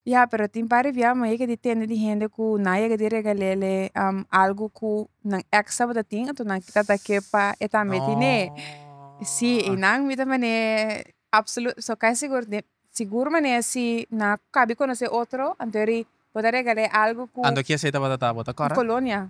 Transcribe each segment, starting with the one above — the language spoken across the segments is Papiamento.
Ya, pero tin par di bia mi yega di tende di hende ku nan yega di regalele algu ku nan ex tabata tin anto nan kita ta ke pa e tambe tin e si i nan mi ta mane apsolu so kai sigur den sigur mane si nan a kabi konoseé otro anto yari bo ta regal'é algu ku un colonia.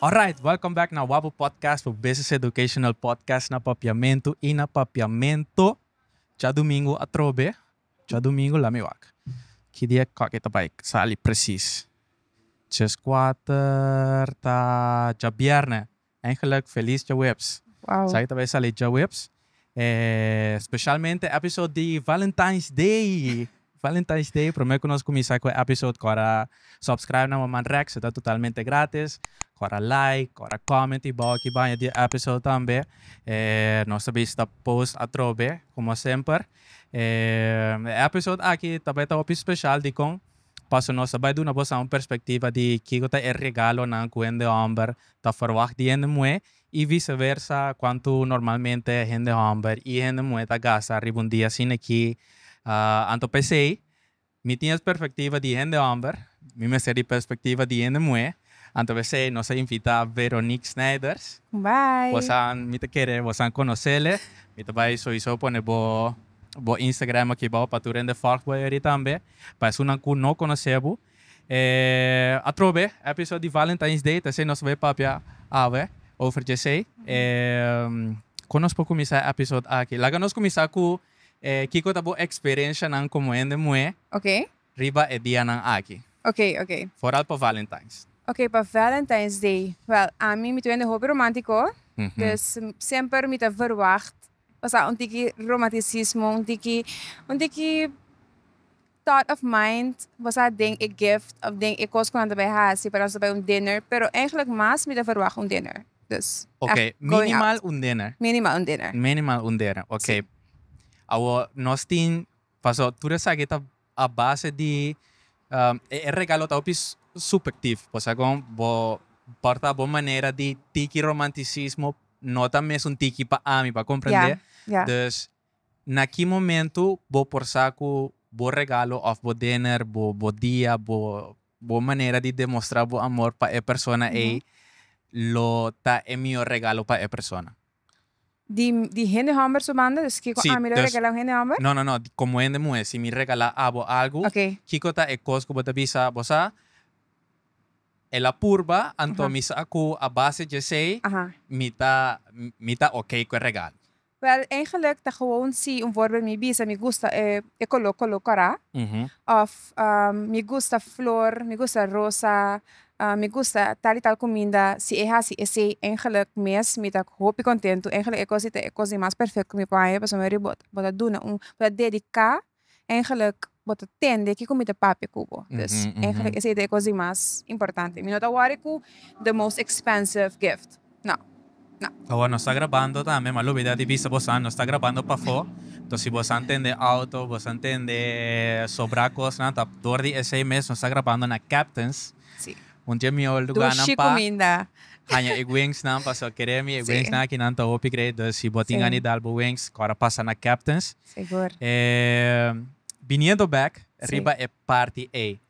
Alright, welcome back na Wabu Podcast, bo business educational podcast na Papiamentu i na Papiamento. Djadumingu atrobe, djadumingu lami wak. Ki dia kak e ta bai sali presis? Djeskuater ta djabièrnè, En geluk feliz djaweps. Esaki ta bay sali djaweps. Specialmente episode di Valentine's Day. Valentine's Day prome cu nos cuminsa cu e episode cora subscribe na Mama Rex ta totalmente gratis. Cora like, cora comment y bao aki baña di e episode tambe. Nos ta bisa ta post atrobe como semper. E episode aki ta bay ta hopi special dicon. Paso nos ta bai duna boso un perspectiva di kico ta e regalonan cu hende homber ta verwacht di hende muhe y viceversa cuantu normalmente hende homber y hende muhe ta gasta riba un dia sin aki. Anto p'esey mi tin es perspectiva di hende homber, mi mester di perspectiva di hende muhe, anto p'esey nos a invita Veronique Snijders, bosan mi ta kere bosan conocele, mi ta bai soiso pone bo. bo Instagram aki bao pa tur hende volg bo eri tambe. Pa esunnan cu no conoce bo. Atrobe episode di Valentine's Day ta esey nos bay papia awe over djesey. Con nos por cuminsa e episode aki? Laga nos cuminsa cu kico ta bo experiencianan como hende muhe riba e dianan aki. Foral pa Valentine's. Ok, pa Valentine's Day. Wel, ami mi ta un hende hopi romantico. Dus semper mi ta verwacht pasa un tiki romanticismo un tiki un tiki thought of mind basa den e gift of den e cos cu nan ta bay hasi para nos ta bay un dinner pero eindelijk mas mi ta verwagt un dinner dus oke minimal un dinner minimal un dinner minimal un dinner oke awo nos tin paso tur esaki ta A base di e regalo ta hopi subhectief, por segun bo porta bo manera di tiki romanticismo no ta mesun tiki pa ami pa comprende, dus na ki momento bo por sa cu bo regalo of bo dinner, bo dia, bo bo manera di demostra bo amor pa e persona ey lo ta e mihor regalo pa e persona. Di di hende hòmber su banda, dus kiko Sí, ami lo dus- regalá un hende hòmber? No, no, no, di komo hende muhé, si mi regalá abo algu, Oké. kiko ta e kos ku bo ta bisa, bo sa, el a purba, anto Aha. mi sa ku a base di esei Aha. mi ta mi ta oké ku e regalo. Wèl, eigenlik ta gewoon si un vòrber mi bisa mi gusta e e koló, koló kòrá, Mhm. òf mi gusta flor, mi gusta rosa, Mi gusta tal y tal cuminda si e haci esey engeluk mes mi ta hopi contento engeluk e cos di ta e cos di mas perfect cu mi por haya pasobra meri bo bo ta duna un bo ta dedica engeluk bo ta tende kico mi ta papia cu bo dus engeluk esey ta e cos di mas importante mi no ta worry cu the most expensive gift. Awor nos ta grabando tambe ma lo bida di bisa bo san nos ta grabando pafó to si bo san tende auto bo san tende sobra cosnan ta door di esey mes nos ta grabando na captains un dje mi ol lugarnan pa haña e wings nan paso kere mi e wings nan aki nan ta hopi great dus si bo tin anidal bo wings kor a pasa na captains biniendo back riba e party ey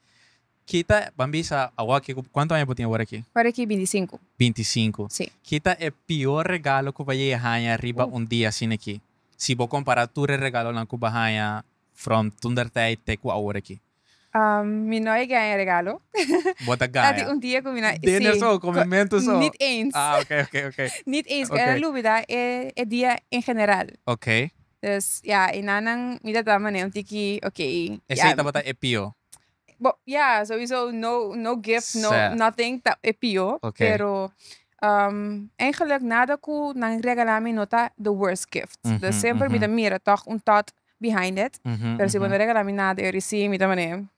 Kita, ban bisa awa ke ku, kuantu aña bo tin awor aki? Ora ki binti sinku. Binti sinku. Sí. Kita e pior regalo ku bo yega haña riba un dia asin'aki, si bo kompará tur e regalonan ku bo a haña from tundertij te ku awor aki? Mi no a yega haña regalo. Bo ta gaña. Tati un dia ku mi na, sí. Dinner so, komimentu so. Nit eens. Ah, ok, ok, ok. Nit eens, mi ta lubida e, e dia en general. Ok. Dus, ya, e nanan mi ta ta manera un tiki, ok, ya. Esei tabata e pio. Bo ya sowiso no no gift no Sè. nothing ta e pio Oké. pero ehm eigenlijk nada ku nan regala mi no ta the worst gift Mhm, dus semper mi mhm. ta mira tog un thought behind it Mhm, pero si bo mhm. no regala mi nada yo risi mi ta mane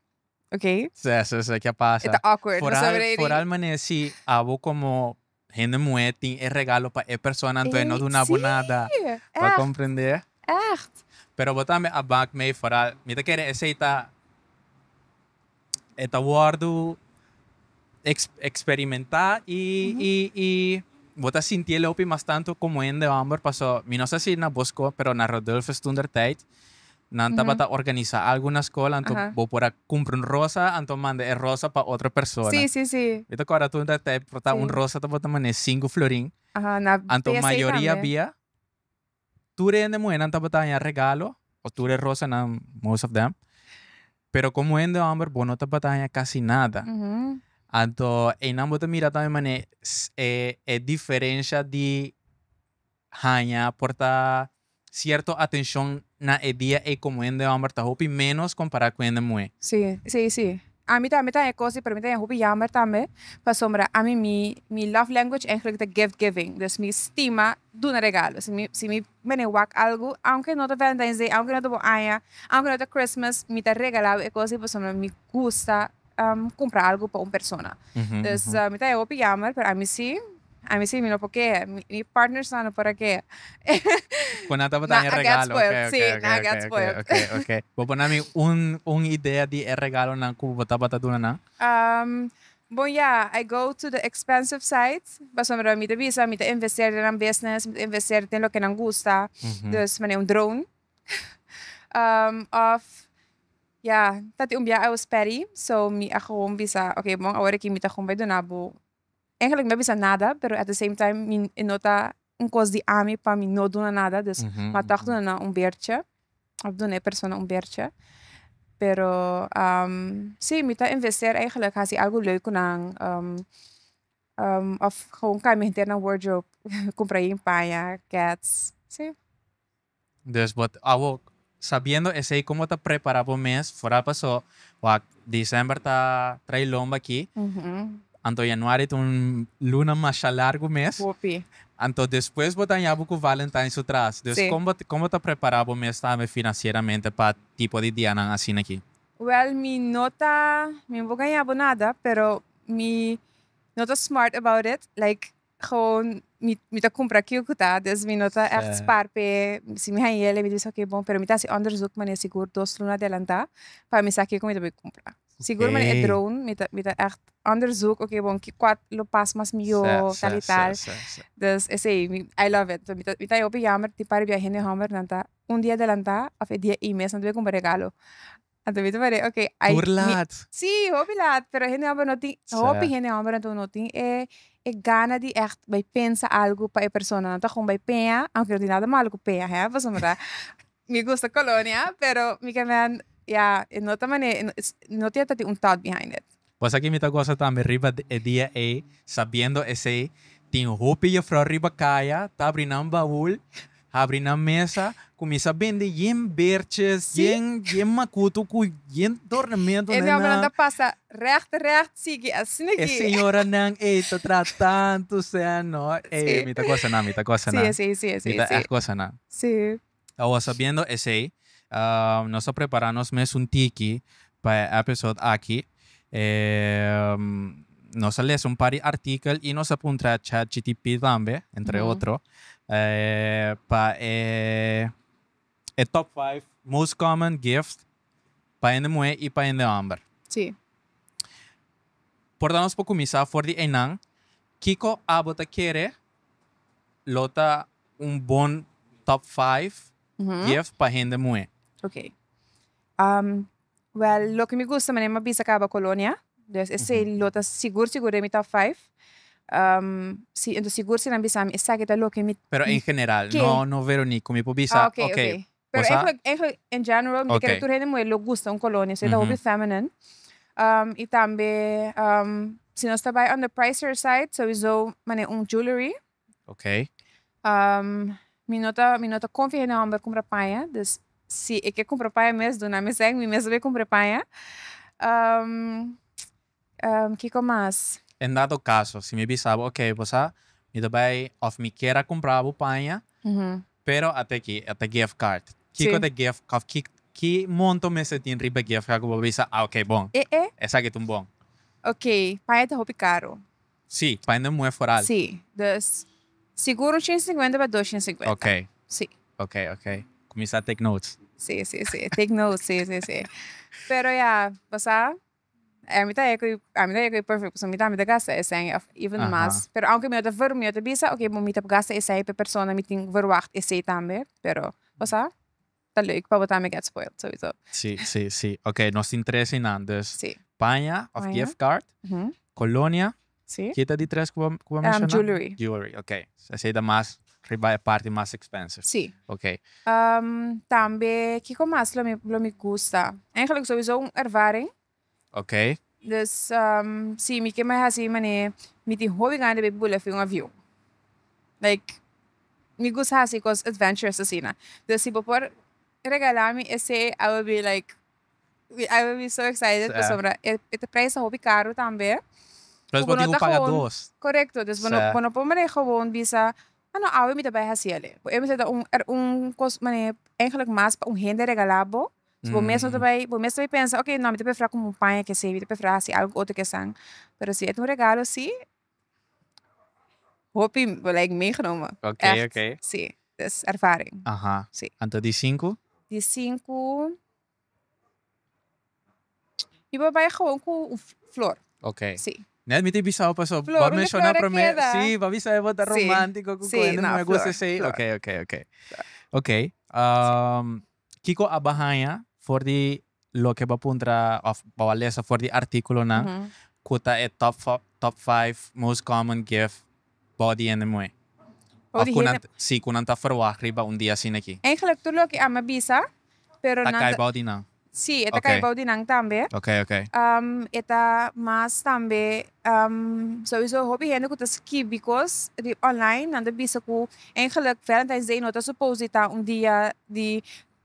oké Sè, sè, sè, kia e pasa. ta awkward Foral, pasobra eri foral mane si abo como hende muhé tin e regalo pa e persona anto e no duna bo nada. Bo komprendé? Ègt. Pero bo tambe a bak mei foral. Mi ta kere esei ta e ta wòrdu eksperimentá i i bo ta sinti e lopi mas tantu komo hende hòmber paso mi no sa si na Boskop pero na Rodulfus tundertyd Nan tabata organisa algu na skol anto bo por a kumpra un rosa anto manda e rosa pa otro persona. Mi ta kòrda tur ta importa un rosa tabata manera sinku florin. Anto mayoria bia tur hende muhernan tabata haña regalo o tur e rosanan most of them pero komo hende hòmber bo no tabata haña kasi nada. Anto einan bo ta mira tambe manera e diferensha di haña por ta cierto atencion na e dia ey como hende homber ta hopi menos compara cu hende muhe. Si, si, si. Ami tambe ta haña cos di, pero mi ta haña hopi jammer tambe, pasobra ami mi mi love language eigenlijk ta gift giving, dus mi stima duna regalo. Si mi si mi bene wak algo, aunke no ta Valentine's Day, aunke no ta bo aña, aunke no ta Christmas, mi ta regalabo e cos di pasobra mi gusta. cumpra algo pa un persona. Dus mi ta e hopi jammer, pero ami si, ami si, mi no por kehe. Mi partners nan no por a kehe. Cu nan tabata e regalo. Nan a get spoiled, si, nan a get spoiled. Ok, ok, ok. Bo por nami un, un idea di e regalonan cu bo tabata duna nan? Bon ja, I go to the expensive side, pasobra mi ta bisa mi ta investeer den nan business, mi ta investeer den loke nan gusta. Dus mane un drone. Of ya ta tin un bia aos peri so mi a gewoon bisa ok bon awor aki mi ta gewoon bai duna bo eigenlijk mi no a bisa nada pero at the same time mi e no ta un kos di ami pa mi no duna nada dus mi a tok duna nan un bertje of duna e persona un bertje pero si mi ta investeer eigenlijk hasi algo leuk ku nan of gewoon cambia henter nan wardrobe compra hien paña kets si. Dus bo awo sabiendo esei kon bo ta prepara bo mes foral paso wak December ta trai lomba aki anto Januari ta un luna masha largu mes anto despues bo daña bo ku Valentine su tras dus kon bo kon bo ta prepara bo mes tambe financieramente pa tipo di dianan asina aki. Wel mi no ta mi no por gaña bo nada pero mi no ta smart about it like Gewoon mi mi ta kumpra kiu ku ta dus mi no ta ègt spar p'e si mi hanje el mi ta bisa oke bon pero mi ta hasi ònderzuk mane sigur dos luna adelantá pa mi sa kiu ku mi ta bai kumpra sigur mane e drone mi ta mi ta ègt ònderzuk oke bon ki kwal lo pas mas mihó tal i tal dus esei mi ai love it mi ta mi ta hopi yammer tin par e biahe nan hòmber nan ta un dia adelantá òf e dia i mes nan ta bai kumpra regalo. A tu bisa paré ok ai Tur laat. Si hopi laat pero hende homber no tin Sa. hopi hende homber anto no tin e e gana di ègt bai pensa algu pa e persona nan ta gòn bai pea aunke no tin nada malo ku pea hè pasobra mi ta mi gusta kolonia pero mi ke mèn ya e no ta mane no tin un thought behind it. Kos aki mi ta gosa tambe riba e dia ei, sabiendo esei, tin hopi yefrou riba kaya, tabri nan baul, habri nan mesa, kuminsá bende yen bertjes, Sí. yen yen makuto ku yen dornamento E nenan. diombenan ta pasa règt règt sigui asina E ki. señoranan ei ta traha tantu sèn, no. Sí. Ei, mi ta gosa nan, mi ta gosa Sí, nan. esei, sí, Mi esei, ta sí. ègt gosa nan. Sí. Awa sabiendo esey, nos ta prepara nos mes un tiki pa e episode aki. Nos a lesa un par di artikel y nos a puntra chatgtp tambe, entre otro, pa e top five most common gift pa hende muhé y pa hende homber. Sí. Por ta nos por cuminsa for di eynan, kico abo ta kere lo ta un bon top five gift pa hende muhé? Ok. Well, loke mi gusta manera mi a bisa caba colonia. Dus esey lo ta sigur sigur den mi top five. Entos sigur si nan bisami esaki ta loke mi. Pero en general, no Veronique, cu mi por bisa, ok, Pero Bosa- eigenlijk, eigenlijk in general, mi Ok. kere tur hende muhé lo gusta un kolonia, so e ta hopi Mhm. feminine. Um, i tambe, um, si nos ta bai on the pricier side, souizo manera un jewelry. Ok. Um, mi no ta, mi no ta konfia hende hòmber kumpra paña, dus si e ke kumpra paña mes, duna mi sèn, mi mes ta bai kumpra e paña. Um. Kiko mas? En dado caso, si mi bisa bo, ok, bo sa, mi ta bay of mi kier a cumpra bo paña, pero ata aki, e ta gift card. Kiko ta gift, of ki, ki monto mester tin riba e gift card cu bo bisa, ah, ok, bon. E, e. Esaki ta un bon. Ok, paña ta hopi caro. Si, paña den muhe foral. Si, dus, sigur un ciento cincuenta pa dosciento cincuenta. Ok. Si. Ok, ok. Cuminsa take notes. Si, si, si. Take notes, si, si, si. Pero ya, bo sa. Ey mi ta e koe ami ta e koe perfect pasobra mi tambe ta gasta esei of even mas pero aunke mi no ta verhu mi no ta bisa oke bo mi ta gasta esei per persona mi tin verwacht esei tambe pero pasá ta leuk pa bo tambe get spoiled sowieso si si si oke nos tin tres einan dus paña of gift card colonia. Sí. Ke ta di tres ku bo ku bo menshoná? Jewelry. Jewelry, ok. Esei ta mas riba e parti mas expensive. Sí. Ok. Tambe kiko mas lo mi lo mi gusta? Eigenlijk souso un ervaring. Ok. Dus sí mi ke mai hasi manera mi tin hopi gana di bay bula fu un avion. Like mi gusta hasi cos adventurous asina. Dus si bo por regalami esei I will be like We ai will be so excited pasobra e ta prijs ta hopi karu tambe. Plos bo tin ku paga dos. Korekto dus bo no bo no por manera gewoon bisa a no awe mi ta bai hasi ale por esei ta un er un kos manera eigenlik mas pa un hende regala bo so bo mes no ta bai bo mes ta bai pensa okay no mi ta prefera kumu un paña kesebi mi ta prefera hasi algu otro kesan pero si e ta un regalo si Hopi like meegenomen echt si dus ervaring si. Anto di sinku? Di sinku mi por bai gewoon ku un flor si. Net mi tin bisaw paso bo a menshoná promer si bo a bisa e bo ta romántico ku kende no me gusta esei oke oke oke oke. Kiko a ba haña for di loke bo a puntra òf bo a lesa for di artíkulonan ku ta e top fi, top five most common gift bou di hende muhé? Bou di hende. Òf ku nan, sí, ku nan ta ferwagt riba un dia asina aki? Eigelik tur loke ami a bisa, pero nan. Ta kai bou di nan. Sí, e ta kai bou di nan tambe. Oké, oké. E ta mas tambe. Sowiso hopi hende ku ta skibi kos di online nan ta bisa ku eigenlijk valentines day no ta supos di ta un dia di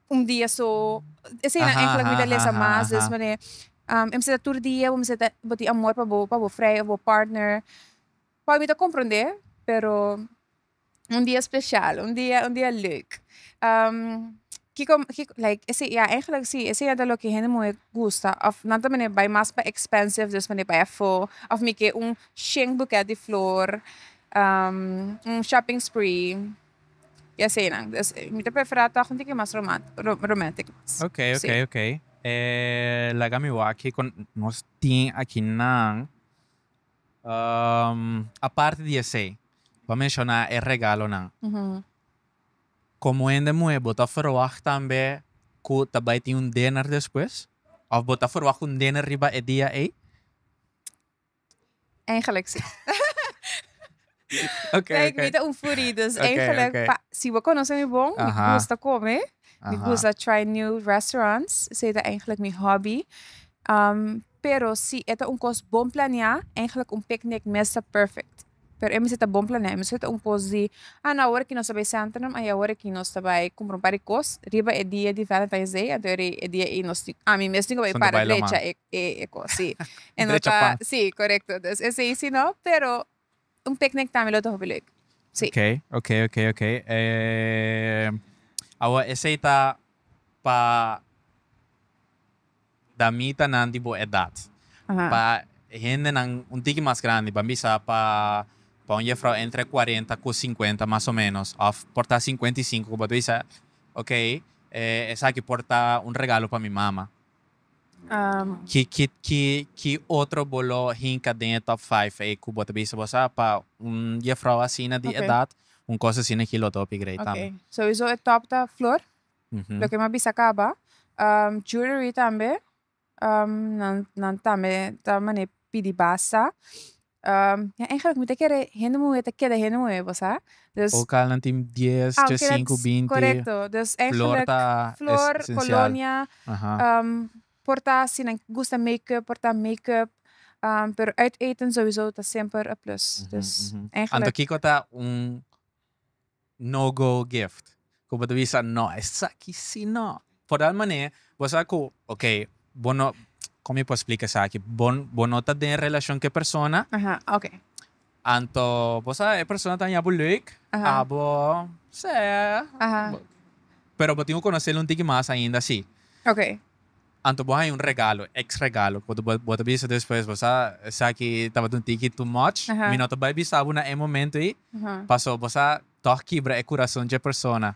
un dia so esei nan eigenlijk mi ta lesa mas dus manera e mester ta tur dia bo mester ta bo tin amor pa bo pa bo frei of bo partner por mi ta comprende pero. un dia special un dia un dia leuk kiko kiko like ese ya eigenlijk si ese ya ta loke hende muhe gusta of nan ta mene bai mas pa expensive dus mene bai afo of mi ke un shen buket di flor un shopping spree ya se nan dus mita prefera tog un tiki mas roman romantic Okay okay okay laga mi wak kiko nos tin aki nan. Aparte di esei, bo a menshoná e regalonan. Komo hende muhé, bo ta ferwagt tambe ku ta bai tin un dinner despues? Òf bo ta ferwagt un dinner riba e dia ei? Eigenlijk sí. Oké, Kijk, oké. mi ta un foodie, dus Oké, eigenlijk, oké. pa- si bo conoce mi bon, mi Aha. gusta come, mi Aha. gusta try new restaurants, esei ta eigenlijk mi hobby. Am, pero si e ta un cos bon planea, eigenlijk un picnic mes ta perfect. Pero e mester ta bon planea, e no mester ta un cos di, ah no awor aki nos ta bai Centrum, ai awor aki nos ta bai cumpra un par di cos, riba e dia di Valentine's Day, anto eri e dia ei nos tin, ah, mi mes tin cu bai Son ta para bai lo drecha man. e, e, e cos, si. E no Drecha ta, pan. si, corecto, dus esei si no, pero. Un picnic tambe lo ta hopi leuk. Sí. Ok, ok, ok, ok. Ehm, awa esey ta pa damitanan di bo edad. Aha. Pa hendenan un tiki mas grandi, ban bisa pa pa un jefrouw entre cuarenta cu cincuenta mas o menos, of por ta cincuenta y cinco cu bo ta bisa, ok, eh, esaki por ta un regalo pa mi mama. Ki otro bo lo hinka den e top five ei ku bo ta bisa bo sa pa un jefrouw asina di edat un kos asina ki lo ta hopi grei tambe. Souiso e top ta flor loke mi a bisa kaba jewelry tambe nan tambe ta manera pidi basa Ya eigenlik mi ta kere hende muhe ta keda hende muhe bo sa. Dus. Lokalnan tin dies, Ah, oke dat chesinku, is binti. korekto. Dus Flor eigenlik ta flor, esensial. kolonia, Aha. por ta si nan gusta makeup por ta makeup, pero uit eten souso ta semper a plus. Mhm, Dus mhm. Anto eigenlik. kiko ta un. No go gift cu bo ta bisa no esaki si no por tal manera cu bo sa cu ok bo no con mi por splica esaki bo bo no ta den relacion cu e persona anto bo sa e persona ta hañabo leuk abo sea pero bo tin cu conocel un tiki mas ainda si Anto bo haña un regalo, ex regalo, ku bo bo ta bisa despues bo sa esaki tabata un tiki too much, mi no ta bai bisa bo na e momento ei, paso bo sa tòg kibra e kurason dje persona,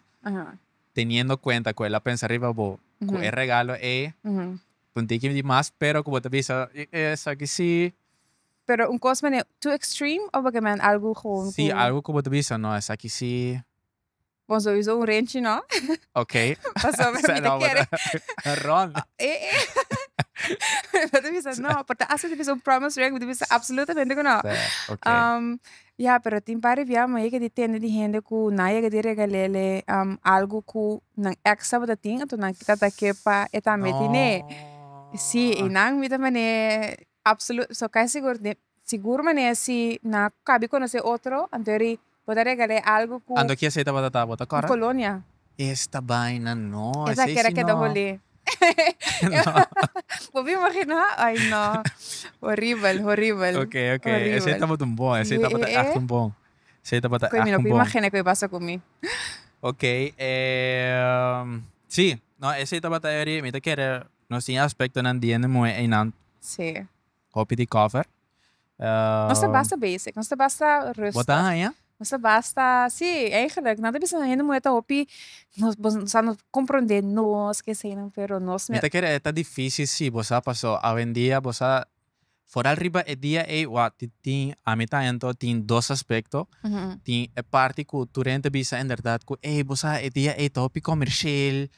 teniendo kuenta ku el a pensa riba bo ku e regalo ei un tiki di mas, pero ku bo ta bisa esaki si. Pero un kos manera too extreme of bo ke men algu gewoon ku. Si algu ku bo ta bisa no esaki si Bon so usa un renchi no. Okay. Paso mi ta kere. Rond. E e. Mi ta bisa no, por ta hasi ta bisa un promise ring, mi ta bisa absolutamente ku no. Okay. Um, ya, pero tin par ribian mi yega di tende di hende ku nan yega di regalele um algu ku nan ex tabata tin, anto nan kita ta ke pa e tambe tine. Si, i nan mi ta mane Absolut so kai sigur di sigur manera si na cabi conoce otro anto ri bo ta regale algo cu Anto kies ey tabata ta bo ta cora? colonia. Esta baina no esa ey si no. Bo bin imagina ay no horibel horibel horibel. Esa ey tabata un bon esa ey tabata echt un bon esa ey tabata echt un bon. Cu mi no puy imagina cu ey pasa cu mi. Ok si no esa ey tabata eri mi ta kere Nos tin e aspectonan di hende muhe einan. Sí. Hopi di cover. Nos ta basta basic. Nos ta basta rustig. Bo ta haña? Nos ta basta, sí, eigenlijk. Nan ta bisa hende muhe ta hopi, sa no comprende nos, ke eseinan, pero nos. Mi ta kere e ta difici si bo sa, paso awendia bo sa Foral riba e dia ei, wak, ti, tin, ami ta ento, tin dos aspecto. Tin e parti cu tur hende ta bisa inderdat cu, ey, bo sa e dia ei ta hopi comercial,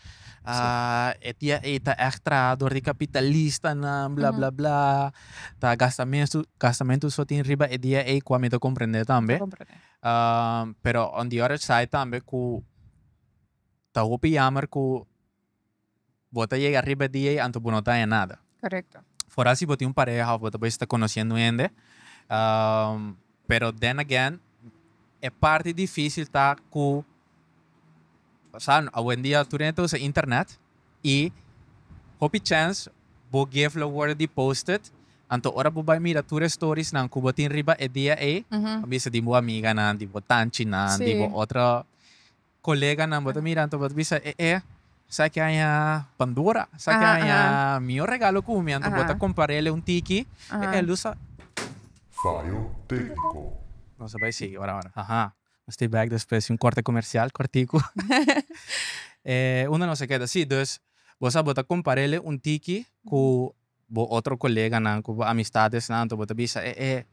e dia ei ta echt traha door di capitalistanan, bla, bla, bla, ta gastamentu, gastamentu so tin riba e dia ei, cu ami ta comprende tambe. Pero on the other side tambe cu ta hopi yamer cu. Bo ta yega riba e dia ei anto bo no ta haña nada. Korekto. For asi bo tin un pareha of bo ta bista konosiendo un hende, pero then again e parti difisil ta ku awendia tur hende ta usa internet i hopi chèns bo gif lo wòrdu di posted, anto ora bo bai mira tur e storisnan ku bo tin riba e dia ei, bo bisa di bo amiganan, di bo tanchinan, di bo otro coleganan bo ta mira anto bo ta bisa e e sa ki haña pandora sa ki haña mior regalo cu mi anto bo ta comparele un tiki e e lo sa. Fallo tecnico. Nos ta bay sigui ora ora. Aha. Nos ta back despues di un corte comercial cortico. Uno de nos a keda si, dus bo sa bo ta comparele un tiki cu Bo otro koleganan ku bo amistadesnan anto bo ta bisa, e e,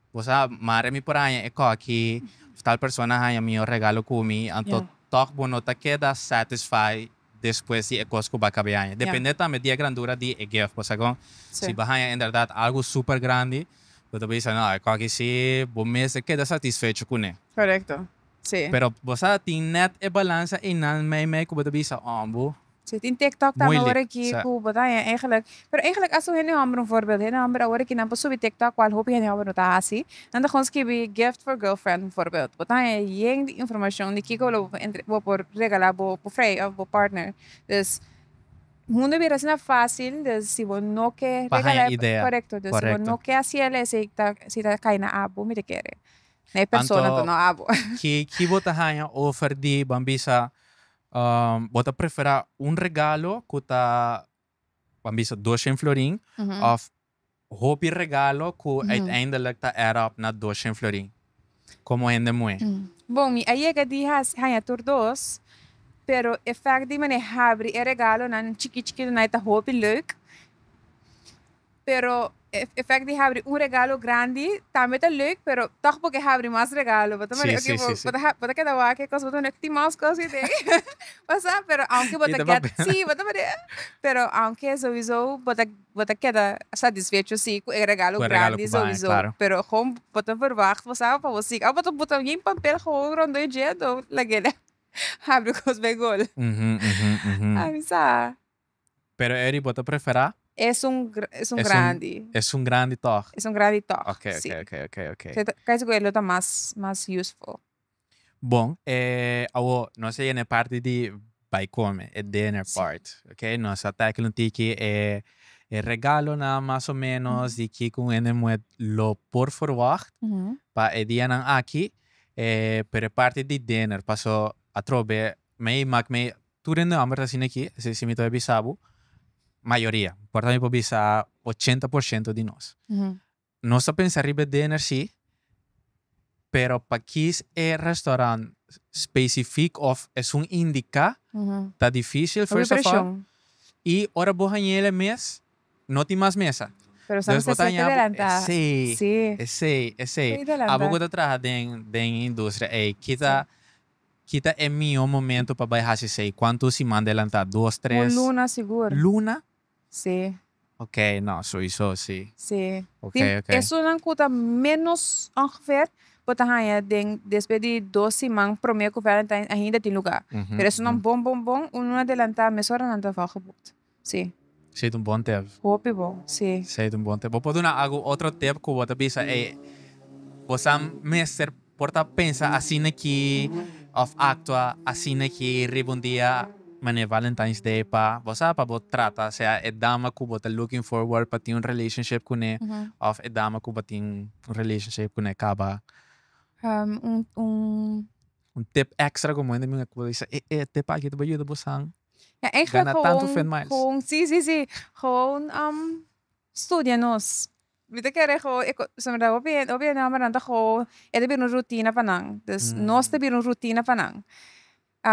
bo sa mare mi por haña e kòki òf tal persona a haña mihó regalo ku mi, anto tòg bo no ta keda satisfai despues di e kos ku bo a kab'é haña. Dependé tambe di e grandura di e gift, pasobra ku si bo haña inderdat algu super grandi, bo ta bisa, no, e kòki si bo mester keda satisfecho kuné. Korekto, sí. Pero bo sa, tin nèt e balansa einan meimei ku bo ta bisa, òmbu, Si tin tiktok tambe awor aki ku bo ta haña eigenlijk, pero eigenlijk asu hende hòmber un voorbeeld, hende hòmber awor aki nan por subi tiktok kual hopi hende hòmber no ta hasi, nan ta gons skibi gift for girlfriend un voorbeeld, bo ta haña yen di informashon di kiko lo bo por regalá bo frei òf bo partner, dus mundo bira asina fásil, dus si bo no ke regalá, korekto, dus si bo no ke hasi el esei ta si ta kai na abo mi ta kere, na e persona anto no abo. Ki bo ta haña over di, ban bisa, Bo ta prefera un regalo ku ta ban bisa doshen florin òf hopi regalo ku uiteindelik ta add up na doshen florin? Komo hende muhé? Bon, mi a yega di haña tur dos, pero e fèkt di mi a habri e regalonan chikí chikitunai ta hopi leuk. Pero e efect di habri un regalo grandi tambe ta leuk, pero tog bo ke habri mas regalo. Bo ta mari, okay, bo bo ta bo ta keda wak e kos, bo ta mari, ok, tin mas kos ei den. Bo sa, pero aunke bo ta get, si, bo ta mari eh. Pero aunke souiso bo ta bo ta keda satisfecho si ku e regalo grandi souiso, pero gewoon bo ta verwacht, bo sa, pa bo sigue. Al bo ta bo ta bien papel gewoon rondó e djieto, laguele habri kos be gol. Ami sa. Pero e riba ta preferá? Esun esun grandi. Esun grandi tòg. Esun grandi tòg. Ok ok ok ok ok. Seta kai sigur e lo ta mas mas useful. Bon e awo nos a yega e parti di bai kome e dinner part ok nos a tèkil un tiki e e regalonan mas o menos di kiko hende muet lo por ferwagt pa e dianan aki pero e parti di dinner paso atrobe mei mak mei Tur den nòmber ta asina aki, asina si mi ta bisa bo, mayoria, por ta mi por bisa ochenta por shento di nos. Nos ta pensa riba e dinner si, pero pa kis e restaurant specifiek of esun indica ta dificil first of all y ora bo haña el e mes no tin mas mesa. Entonces bo ta haña bo esey, esey, esey. Abo cu ta traha den den e industria ey kita Ki ta e mihó momento pa bai hasi esei? Kuantu siman delantá? Dos, tres? Un luna sigur. Luna? Sí. Ok, no, souiso sí. Sí. Ok, Tin ok. esunnan ku ta ménos ongefèr bo ta haña den despues di dos siman promé ku Valentine's ainda tin lugá. Pero esunnan bon bon bon un luna delantá, mesora nan ta vògeboekt. Sí. Sí ta un bon tep. Hopi bo, sí. Sí ta un bon tep. Bo por duna algun otro tep ku bo ta bisa, ey, bo sa mester por ta pensa asina aki òf aktua asina aki riba un dia manera Valentine's Day pa bo sa pa bo trata sea e dama ku bo ta looking forward pa tin un relationship kuné òf e dama ku bo tin un relationship kuné kaba. Un tip extra ku bo hende ku bo ta bisa, e e tip aki ta bayuda bosan. Ja eigenlijk gewoon si si si gewoon studia nos mi ta kere gewoon hopi hende hombrenan ta gewoon e ta bira un rutina pa nan dus nos ta bira un rutina pa nan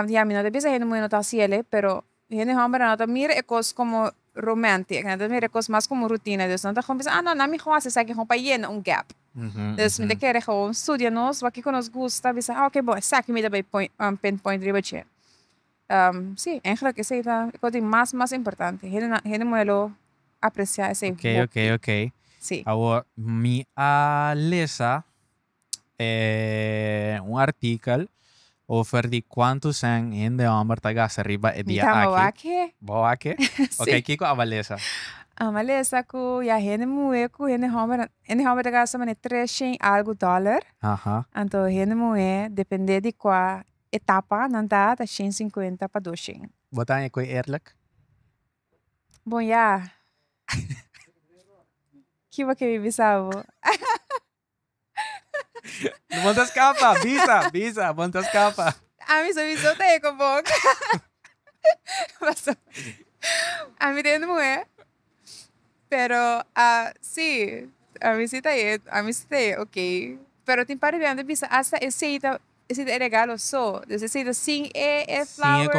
ya mi no ta bisa hende muhe no ta hasiele pero hende hombrenan no ta mira e kos como romantic nan ta mira e kos mas como rutina dus nan ta gewoon bisa nan ami gewoon a hasi esaki gewoon pa yena un gap dus mi ta kere gewoon studia nos wak kiko nos gusta bisa a ok bo esaki mi ta bai pon pon pon riba dje. si eigenlijk esey ta e kos di mas mas importante hende muhe lo aprecia esey hopi. Ok ok ok si. Awor mi a lesa un artikel over di cuanto cent hende homber ta gasta riba e dia aki. Mi tamawak he. Bo aki? Si. Ok kiko aba lesa? Ami a lesa ku ya hende muhe ku hende homber hende homber ta gasta maneer tres shen algo dollar. Anto hende muhe depende di kua. E tapa nan ta ta shen sinkuenta pa dos shen. Bo ta haña koe eerlijk? Bon ya. Kiba ke mi bisa bo? Bon ta skapa! Bisa, bisa! Bon ta skapa! Ami so bisa ta e ku bo. Paso ami ta e muhe. Pero a si ami si ta e ami si ta e ok pero tin par riba ami ta bisa asta esei ta esei ta e regalo so dus esei ta sin e e flowers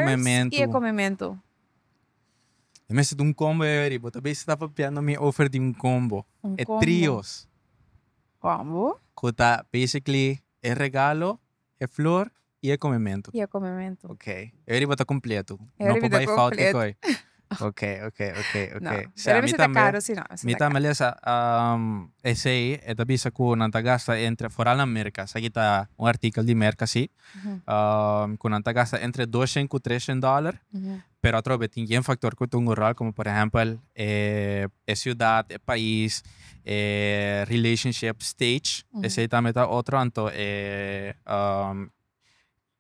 i e komementu. E mester ta un kombo ahi ariba bo ta bisa ta papiando mi ofer di un kombo e trios kombo ku ta basically e regalo. E flor y e comementu. Y e comementu. Ok. E horiba ta completo. E horiba ta completo. No por bay fout di coy. Ok, ok, ok, ok. No. E horiba si ta caro si no. Mi tambe lesa esey e ta bisa cu nan ta gasta entre, foral na Merca, esaki ta un artikel di Merca si, cu nan ta gasta entre doshen cu treshen dollar pero atrobe tin yen factor cu tungo rol como por ehempel e ciudad, e pais, e relationship stage esey tambe ta otro anto e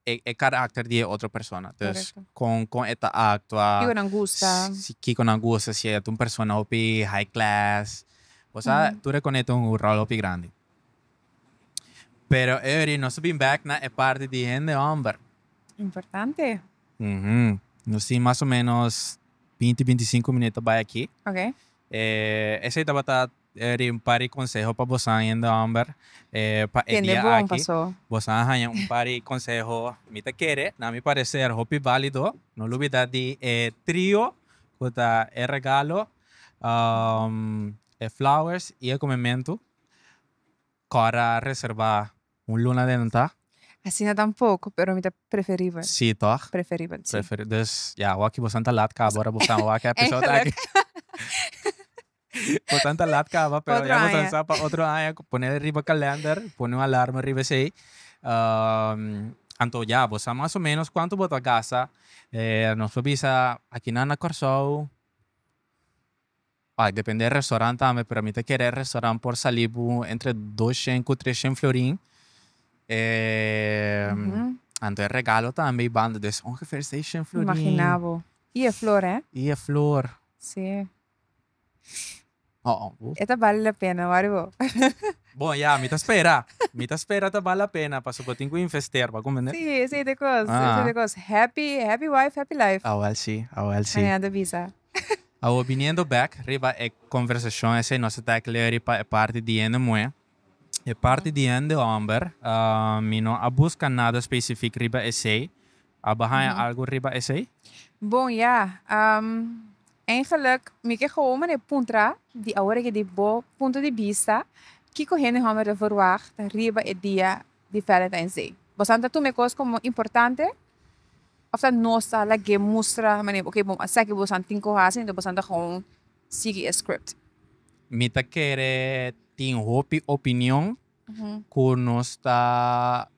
e caracter di e otro persona dus con con e ta actua, kico nan gusta, kico nan gusta si e ta un persona hopi high class bo sa tur e cone tin un rol hopi grandi pero eyori nos ta bin back na e parti di hende homber. Importante. Nos tin mas o menos binti, binti sinku minut ta bai aki. Ok. Esei tabata riba un par di konseho pa bosan hende hòmber pa e dia aki. Bosan a haña un par di konseho ku mi ta kere, na mi pareser hopi válido. No lo bida di e trio ku ta e regalo, e flowers i e komementu. Cora reserba un luna den un ta. Asina tampoco, pero mi ta preferibel. Sí toch? Preferibel, sí. Preferibel. Dus, ya, awaki bosan ta lat caba ora bosan wak e episode aki. Bosan ta lat caba, pero ya bosan sa pa otro aña. Pone riba calender, pone un alarma riba esey. Anto ya, bo sa mas o menos cuanto bo ta gasta. Nos por bisa, akinan na Corsou. Pa depende e restaurant tambe, pero mi ta kere e restaurant por sali bo entre doshen ku treshen florin. E anto e regalo tambe i banda des ongeveer seishen florin. Imagina bo. I e flor eh. I e flor. Si. Ho'o bo. E ta bali la pena, wari bo. Bon ya, mi ta spera. Mi ta spera ta bali la pena pasobra bo tin ku investeer, bo a komprende? Si, esei ta e kos, esei ta e kos. Happy, happy wife, happy life. Awel si, awel si. Hanian ta bisa. Awor biniendo bek riba e conversacion esey nos a take leury pa e parti di hende muhe, e parti di hende homber, mi no a busca nada specific riba esey. A bo haya algo riba esey? Bon ya, eigenlijk mi ke gewoon mane puntra di awor eki di bo punto di bista, kico hende homber ta verwagt riba e dia di Valentijns Day. Bosan ta tuma e kos komo importante? Of ta nos ta laga e mustra manera ok bo a sa ke bosan tin ku hasi enton bosan ta gewoon sigui e script? Mi ta kere tin hopi opinion ku nos ta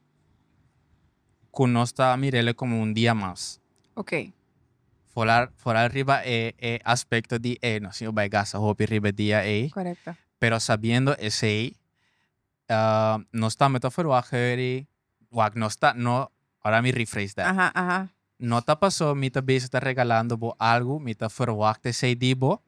ku nos ta mirele komo un dia mas. Ok. Foral foral riba e e aspekto di e nos no bai gasta hopi riba e dia ei. Korekto. Pero sabiendo esei nos tambe ta ferwagt hurry, wak nos ta no, ora mi rephrase dat. Aha, aha. No ta paso mi ta bezig ta regalando bo algu, mi ta ferwagt esei di bo,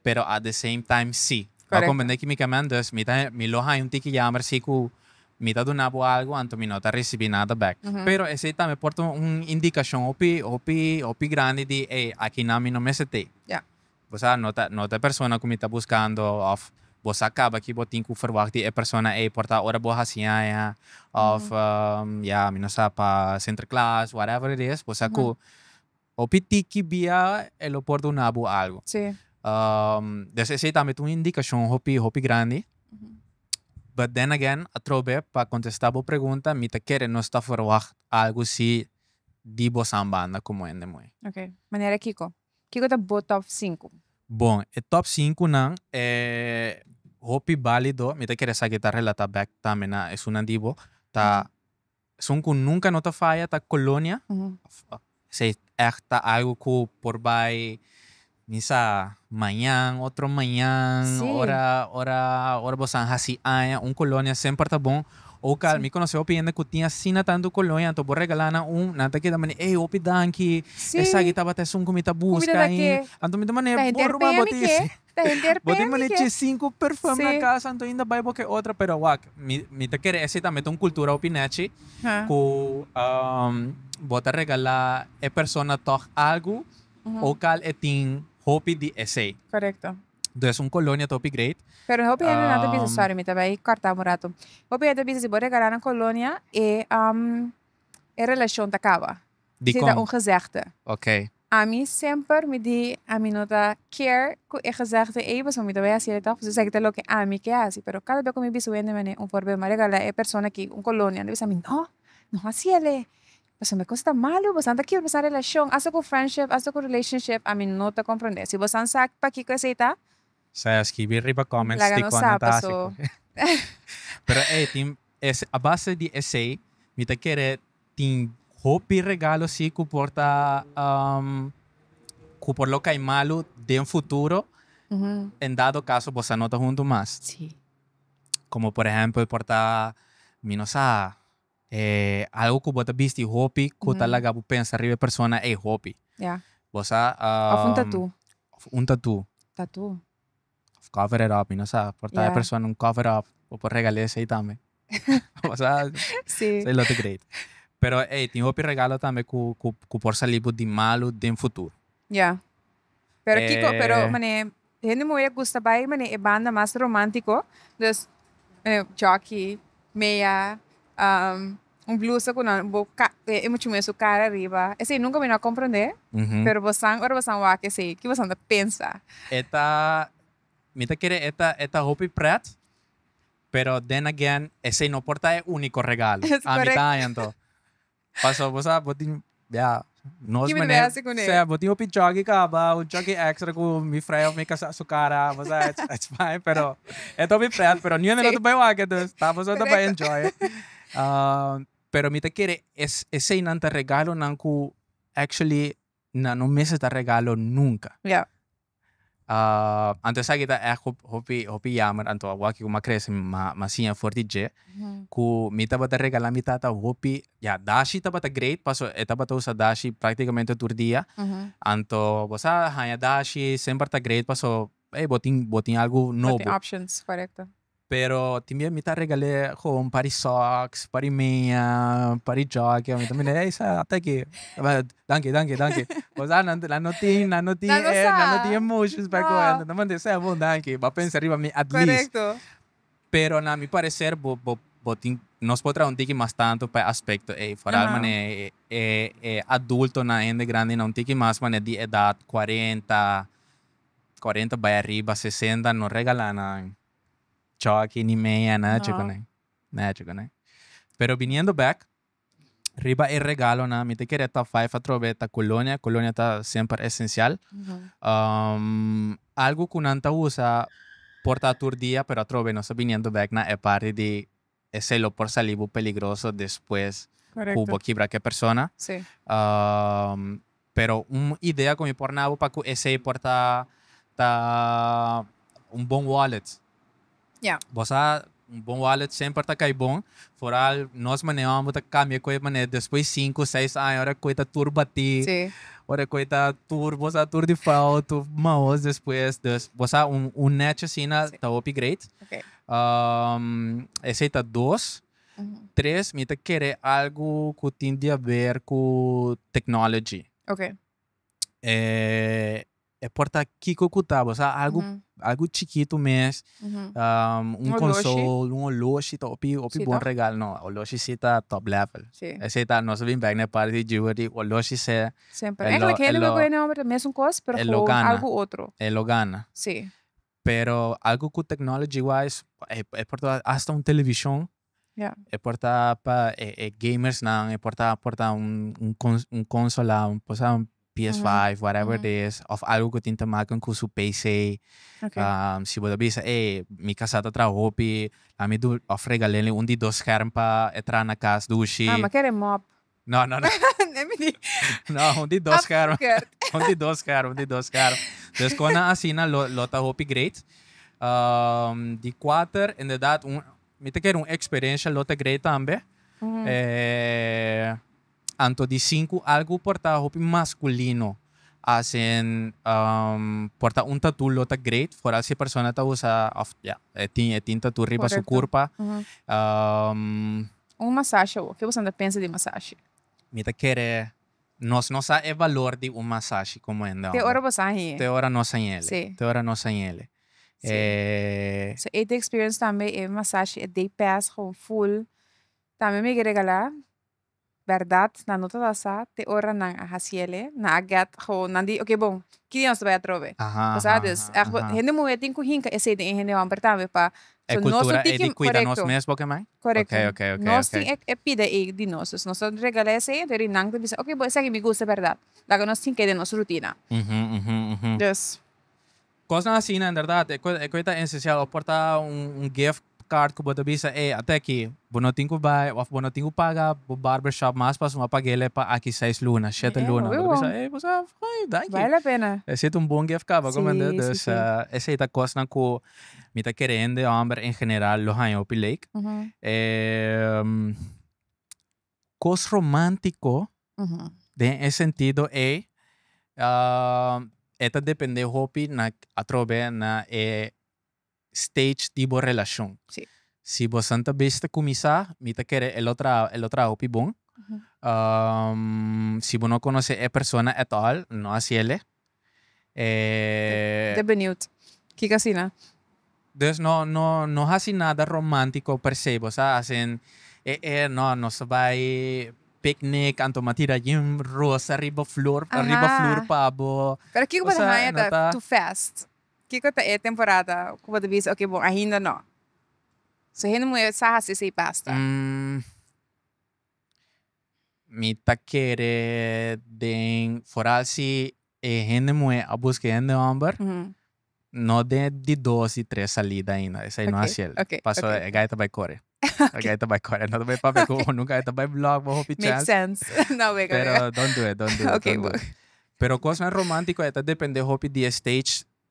pero at the same time si. Correcto. Bo a comprende kimikamen, dus mi ta mi lo haña un tiki yamber si ku mi ta duna bo algu, anto mi no ta risibí nada back. Pero esei tambe por ta un indikashon hopi hopi hopi grandi di ey, akinan mi no mester tei. Ya. Bo sa, no ta, no ta e persona ku mi ta buskando, òf, Bo sa kaba ki bo tin ku ferwagt di e persona ei por ta ora bo hasi aña, òf, Ya, mi no sa, pa Sinterklaas, whatever it is, bo sa ku hopi tiki bia e lo por duna bo algu. Sí. Des esei tambe ta un indikashon hopi, hopi grandi. But then again, atrobe pa kontestá bo pregunta, mi ta kere nos ta ferwagt algu sí di bosan banda komo hende moe. Ok, manera kiko? Kiko ta bo top sinku? Bon, e top sinkunan e hopi bálido. Mi ta kere sa ke ta relatá bèk tambe na esunnan di bo. Ta esun ku nunka no ta faya ta Colonia, esei ègt ta algu ku por bai mi sa mañan, otro mañan, ora ora bo sa hasi aña. Un Colonia semper ta bon. Oca mi conoce hopi hende cu tin asina tanto colonia anto bo regala nan un, nan ta keda manera, ey hopi danki, esaki tabata esun cu mi ta busca ahin, anto mi ta manera, bo ruba bo tin ese, bo tin manera chi cinco perfume na casa anto ainda bay bo ke otro, pero wak, mi, mi ta kere ese tambe ta un cultura hopi nechi cu bo ta regala e persona toch algo oca e tin hopi di esey. Dùes un kolonia ta hopi great. Pero hopi hende nan ta bisa, sorry mi ta bai kòrta un ratu. Hopi hende ta bisa si bo regalá nan kolonia e e relashon ta kaba. Dikon? Si ta un gezegde. Okay. Ami semper mi di ami no ta care ku e gezegde ei pasobra mi ta bai hasi el tòg, pasobra esaki ta loke ami ke hasi. Pero kada bia ku mi bisa un hende manera un forbeu mi a regalá e persona aki un kolonia, anta bisa mi, no, no hasi el e. Pasobra cos ta malo, bosan ta kiebra bosan relacion, asta cu friendship, asta cu relationship, ami no ta comprende. Si bosan sa pakico esey ta. Sa ya skibi riba comments Laga nos dicona ta saba, haci so. cu. Pero ey, tin ese, a base di esey, mi ta kere tin hopi regalo si cu por ta, um, cu por lo cay malo den futuro, en dado caso bosan no ta hunto mas. Si. Como por ehempel por ta, mi no sa. E algo ku bo ta bisti hopi ku ta laga bo pensa riba e persona ei hopi. Ya. Bo sa. Òf un tatú. Òf un tatú. Tatú. Òf cover it up, mi no sa. Por ta e persona un cover it up. Bo por regal'é esei tambe. Bo sa. Sí. Esei lo ta great. Pero ei, tin hopi regalo tambe ku por salí bo di malu den futuro. Ya. Pero kiko, Eh. pero mane, hende moe a gusta bai mane e banda mas romantico, dus mane jockey, meya, am, un blusa cu nan bo ka e mucho moe su cara riba, esey nunca mi no a comprende, Ujú. pero bosan ora bosan wak esey ki bosan ta pensa? E ta, mi ta kere e ta, e ta hopi pret, pero then again esey no por ta e unico regalo, Yes, ami ta correcto. haña anto. Paso bo sa bo tin bia nos Kibe mane besi kuné. sea bo tin hopi chuggy kaba un chuggy extra ku mi frei of mi kasa su kara bo sa ets ets fine pero e ta hopi pret pero niun e no ta bai wak entonces ta boso ta bai enjoy pero mi ta kere es eseinan ta regalonan ku actually nan no mester ta regalo nunka anto esaki ta èg hopi hopi yammer anto awaki ku m'a krese m'a siña for di dje ku mi tabata regala mi tata hopi ya dashi tabata great paso e tabata usa dashi práktikamente tur dia anto bo sa haña dashi semper ta great paso ey bo tin bo tin algu nobo. Pero tin dia mi ta regal'é gewoon un par di sòks, un par di meña, un par di jòkki, mi ta mira ey sa ata aki, danki danki danki kosa nan nan no tin nan no tin nan no tin emotions pa kohe nan ta manda esei bon danki bo a pensa riba mi at least pero na mi parecer bo bo bo tin nos por traha un tiki mas tanto pa e aspecto ey foral manera e e adultonan e hende grandenan un tiki mas manera di edad cuarenta cuarenta bai ariba sesenta no regala nan. choki ni meña nacho kuné nacho kuné pero biniendo bek riba e regalonan mi ta kere top five atrobe ta colonia colonia ta semper esencial algo ku nan ta usa por ta tur dia pero atrobe nos ta biniendo bek na e parti di esei lo por sali bo peligroso despues ku bo kibra ku e persona. Pero un idea ku mi por nabo pa ku esei por ta ta un bon wallet. Bo sa un bon wallet semper ta kai bon, foral nos manera wan bo ta kambia ku e manera despues sinku, seis aña ora ku e ta tur batí, ora ku e ta tur bo sa tur di fout uf maos despues. Dus bo sa un un nèchi asina ta hopi great. esey ta dos. Tres mi ta kere algo ku tin di haber ku technology. Okay. E por ta kiko ku ta bo sa algo algo chikitu mes un konsol un oloshi ta hopi hopi bon regalo no oloshi si ta top level esey ta nos a bin bek na e parti di jewelry oloshi se e lo gana e lo gana. Pero algu ku technology wise e por ta hasta un televishon e por ta pa e gamersnan e por ta por ta un consola por ta un ps five whatever it is of algu ku tin te make ku su pc si bo ta bisa ey mi kasa ta traha hopi lami du of regal'e un di dos skèrm pa e traha na kas dushi. No, no, no. Let me think. No, un di dos carro. un di dos carro, un di dos carro. Dus kon na asina lo, lo ta hopi great. Um, di cuater, inderdaad, un, mi te ker un experiencia lo ta great tambe. Mm -hmm. eh, anto di cinco algo por ta hopi masculino. Asin, um, por ta un tattoo lo ta great, vooral si persona ta usa, of, ja, yeah, e tin, e tin tattoo riba Correcto. su curpa. Mm -hmm. um, Un masashi awor. Ke bosonan ta pensa di masashi? Mi ta kere nos no sa e valor di un masashi komo hende Te homber. ora bo sa hen e. Te ora nos hen ele. Si. Te ora nos hen ele. Si. E. So AT experience tambe e masashi e day pass gewoon full. Tambe mi ke regala berdad nan no ta sa sa te ora nan a hasi ele nan a get gewoon nan di oke bon ki dia nos ta bai atrobe. Aha aha aha. Bo sa dus ech bo hende muhe tin ku hinka esei den e hende homber tambe pa E So, nos no cultura e tiki, di cuida nos corecto, mes bo kemai? corecto. Okay, okay, okay, Nos tin okay. e, e pida ei di nos, dus nos ta regala esei, den ri nan ta bisa, ok bo esaki mi gusta berdad, laga nos tin kei den nos rutina. Uhu, uhu, uhu. Dus. Cosnan asina en berdad e cu, e cu e ta esencial, o por ta un, un gift card cu bo ta bisa, ey, ata aki, bo no tin cu bay, of bo no tin cu paga bo barber shop mas pa asuma pa guele pa aki seis luna, shete Ey, luna, bo ta wibo. bisa, ey, bo sa, foei, danki. Bale la pena. E sit un bon gift card bo, Si, comprende? si, Dus, si. esei ta cosnan cu Mi ta kere hende hòmber en general lo haña hopi leek. Kos romántiko den e sentido ei e ta dependé hopi na atrobe na e stage di bo relashon. Si bosan ta bisti kuminsá mi ta kere e lo traha e lo traha hopi bon. Si bo no konosé e persona at all no hasiel e. E. Ta beniut. Kiko asina? Dus no no no hasi nada romántiko per se. Bo sa hasen e e no nos ta bai picnic anto mi a tira yin rosa riba flor riba flor pa bo. Pero kiko bo ta haña ta ta tu fest? Kiko ta e temporada ku bo ta bisa oke bo ainda no. So hende muhé sa hasi esei basta. Mi ta kere den foral si e hende muhé a buska e hende hòmber no den di dos di tres salida ainda esei no hasi el paso e gai ta bai kore e gai ta bai kore no ta bai papia ku unu gai ta bai blòk bo hopi chèns pero dont du it dont du it pero kosnan romantiko e ta depende hopi di e stage.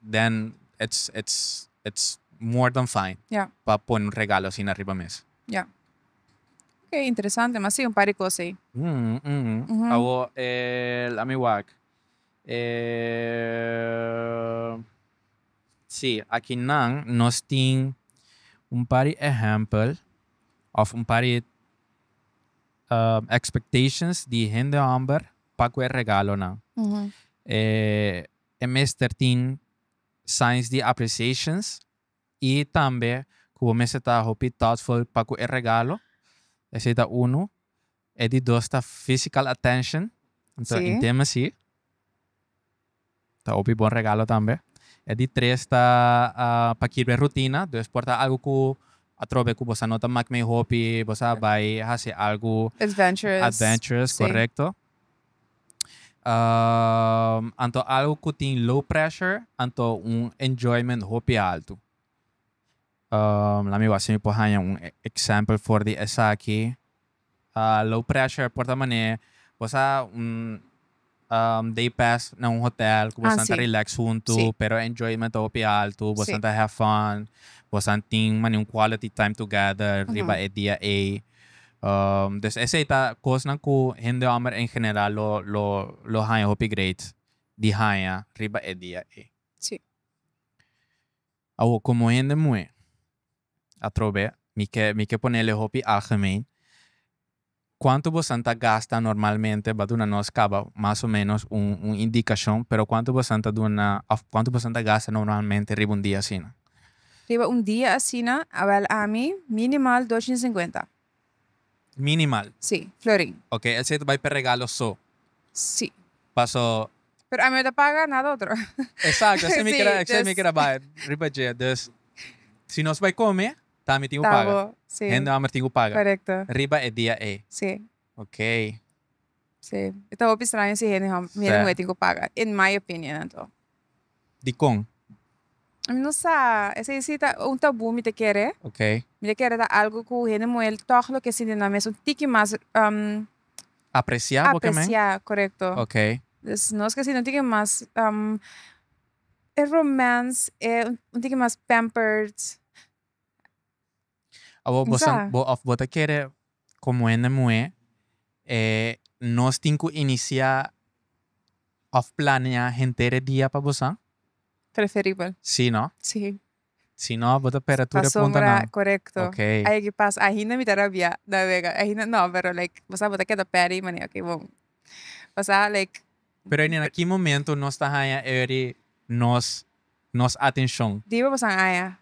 den ets ets ets more dan fine Ya. pa pone un regalo asina riba mes. Ya. Ok, interesante, mas si un par di cos ey. Umm umm Uhu. Awo e la mi wak e si aki nan nos tin un par di ehempel of un par di expectations di hende homber pa cu e regalonan Uhu. e e mester tin signs di appreciations y tambe cu bo mester ta hopi thoughtful pa cu e regalo. Esey ta uno. E di dos ta physical attention, anto intimacy, ta hopi bon regalo tambe. E di tres ta pa kirba e rutina, dus por ta algo cu atrobe cu bosa no ta mak mey hopi, bosa a bay haci algo adventurous, correcto. anto algo ku tin low pressure anto un enjoyment hopi altu. lami wak si mi por haña un example for di esaki. low pressure por ta manera bo sa un day pass na un hotel ku bosan ta relax huntu pero e enjoyment ta hopi altu bosan ta have fun bosan tin manier un quality time together riba e dia ey Dus esei ta kosnan ku hende hòmber en general lo lo lo haña hopi great di haña riba e dia ei. Sí. Awor komo hende muhé, atrobe mi ke mi ke ponele hopi algemeen, kuantu bosan ta gasta normalmente ba duna nos kaba mas o menos un un indikashon, pero kuantu bosan ta duna òf kuantu bosan ta gasta normalmente riba un dia asina? Riba un dia asina, a bel ami, minimal dos chin cincuenta. Minimal? Si, florin. Ok, el sei ta bai p'e regalo so. Si. Paso. Pero ami no ta paga nada otro. Exacto, así mi keda, así mi keda bai riba dje. Dus, si nos bai come, ta ami tin cu paga. Ta bo, si. Hende amber tin cu paga. Correcto. Riba e dia ey. Si. Okay. Sí. E ta hopi straño si hende hom, hende muhé tin ku paga, in my opinion anto. Dikon? Mi no sa. Esei si ta un tabú mi ta kere. Okay. Mi ta kere ta algu ku hende muhé tòg lo ke sinti nan mes un tiki mas Apresiá bo ke men? apresiá, korekto. Okay. Dus nos ke sinti un tiki mas e romance e un tiki mas pampered. Awor bo sa bo of bo ta kere komo hende muhé e nos tin ku inisiá of planeá henter e dia pa bo sa? Preferibel. Sí no? Sí. Si no bo ta pera tur e punta nan. Pasobra korekto. Okay. Ai aki pas ahinda mi ta rabiá na wega ahinda no pero like bo sa bo ta keda peri manera ke bo bo sa like. Pero e nena ki momento nos ta haña eri nos nos atencion? Diba bosan haña?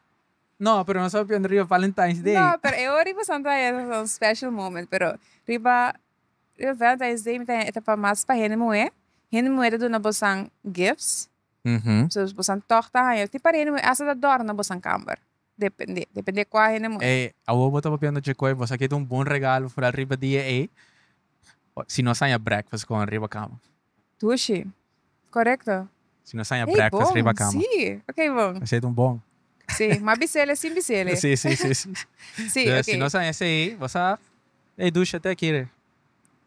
No, pero nos a biunda riba Valentine's Day. No, pero e ori bosan ta haña esaki un special moment, pero riba riba Valentine's Day mi ta haña e ta pa mas pa hende muhe, hende muhe ta duna bosan gifts, so bosan tog ta haña tin par hende muhe asta ta dor na bosan kamber. Depende, depende kua hende muhe. E awor bo ta papiando dje koe bo sa ke ta un bon regalo foral riba dia ei si no saña breakfast kon riba kama. Tushi, korekto. Si no saña Hey breakfast bon, riba kama. si, ok bon. Esei ta un bon. Si, ma bisel e sin bisel e. Si, si, si, si. Si, Entonces, ok. si no saña esei bo sa ei dushi te aki re.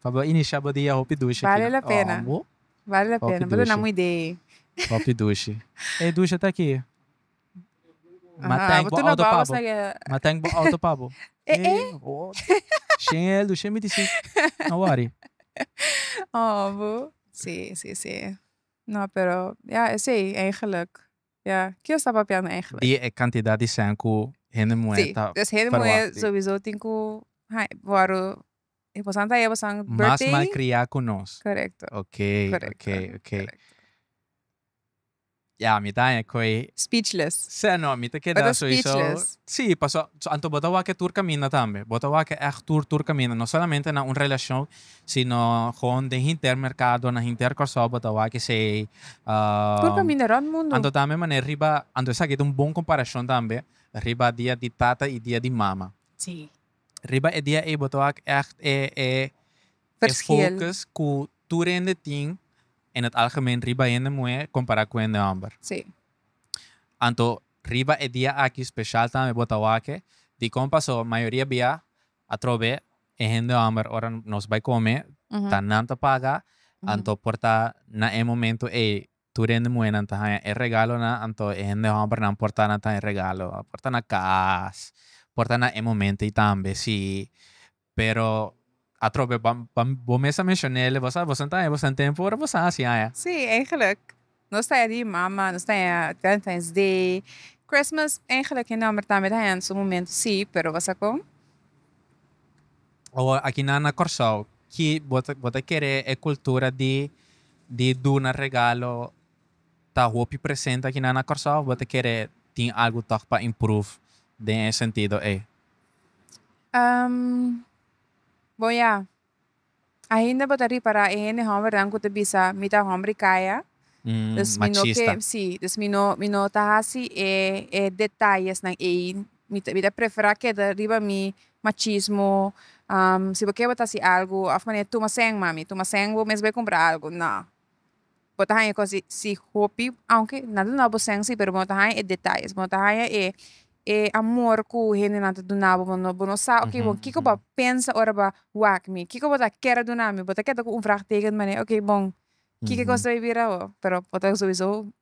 Pa bo inisha bo dia hopi dushi aki Bale nan. la pena, Awor, bale la hopi pena. Bo ta na dushi. un idee. hopi dushi. Ei dushi te aki. Ma Aha, tank bo botu na auto babos pabo. na guerra. Ma tank bo auto pabo. Eh, eh. oh. Shen el du, shen mi disi. No worry. Oh, bo. Sí, sí, sí. No, pero ya esei eigenlijk. Ya, ke yo sta papiando eigenlijk? Di e cantidad di cent cu hende muhé Sí, ta dus hende muhé verwacht di. sobiso tin ku ha wòru e pasan ta e pasan Mas birthday. malcria cu nos. Correcto. Oké, Correcto, oké, oké. correcto. Ya, mi ta haña koe. Speechless. Sea no, mi ta keda. Mi ta speechless. Sí, paso, anto bo ta wak e tur kaminda tambe. Bo ta wak e ègt tur tur kaminda. No solamente na un relashon, sino gewoon den hinter merkado, na hinter Kòrsou bo ta wak esei. Tur kaminda rònt mundu. Anto tambe manera riba, anto esaki ta un bon komparashon tambe, riba dia di tata i dia di mama. Sí. Riba e dia ei bo ta wak ègt e, e. e focus cu tur hende tin en het algemeen riba hende muher compara cu hende homber. Anto riba e dia aki special tambe bo ta wake dicon paso mayoria bia atrobe e hende homber ora nos bay come ta nan ta paga anto por ta na e momento ey tur hende muhernan ta haya e regalonan anto e hende hombernan por ta nan ta haya regalo por ta na cas por ta na e momento ey tambe si Pero atrobe bo mes a menshon'é le bosa bosa ta haña bosa den tempu ora bosa hasi haña. Sí, eigenlik nos ta haña di mama, nos ta haña Valentine's Day, Christmas eigenlik e nòmber tambe ta haña su momentu sí, pero bosa kon? Awo aki nan na Kòrsou ki bo ta bo ta kere e kultura di di duna regalo ta hopi presente aki nan na Kòrsou of bo ta kere tin algu tòg pa improve den e sentido ei? bon ya ainda bo ta ripara e hende hòmbernan ku ta bisa mi ta hòmber kaya, dus mi no ke si dus mi no mi no ta hasi e e detayesnan ei mi ta mi ta prefera keda riba mi machismo si bo ke bo ta hasi algu of manera tuma sèn mami tuma sèn bo mes bo kumpra algu nò. bo ta haña cos di si hopi aunke nan ta nabo sensy pero bo no ta haña e detalles bo no ta haña e e amor ku hendenan ta duna bo bo no sa oke bon kiko bo pensa ora bo a wak mi kiko bo ta ker a duna mi bo ta keda ku un vraag teken manera oke bon kiko cos ta bira awo pero bo ta souso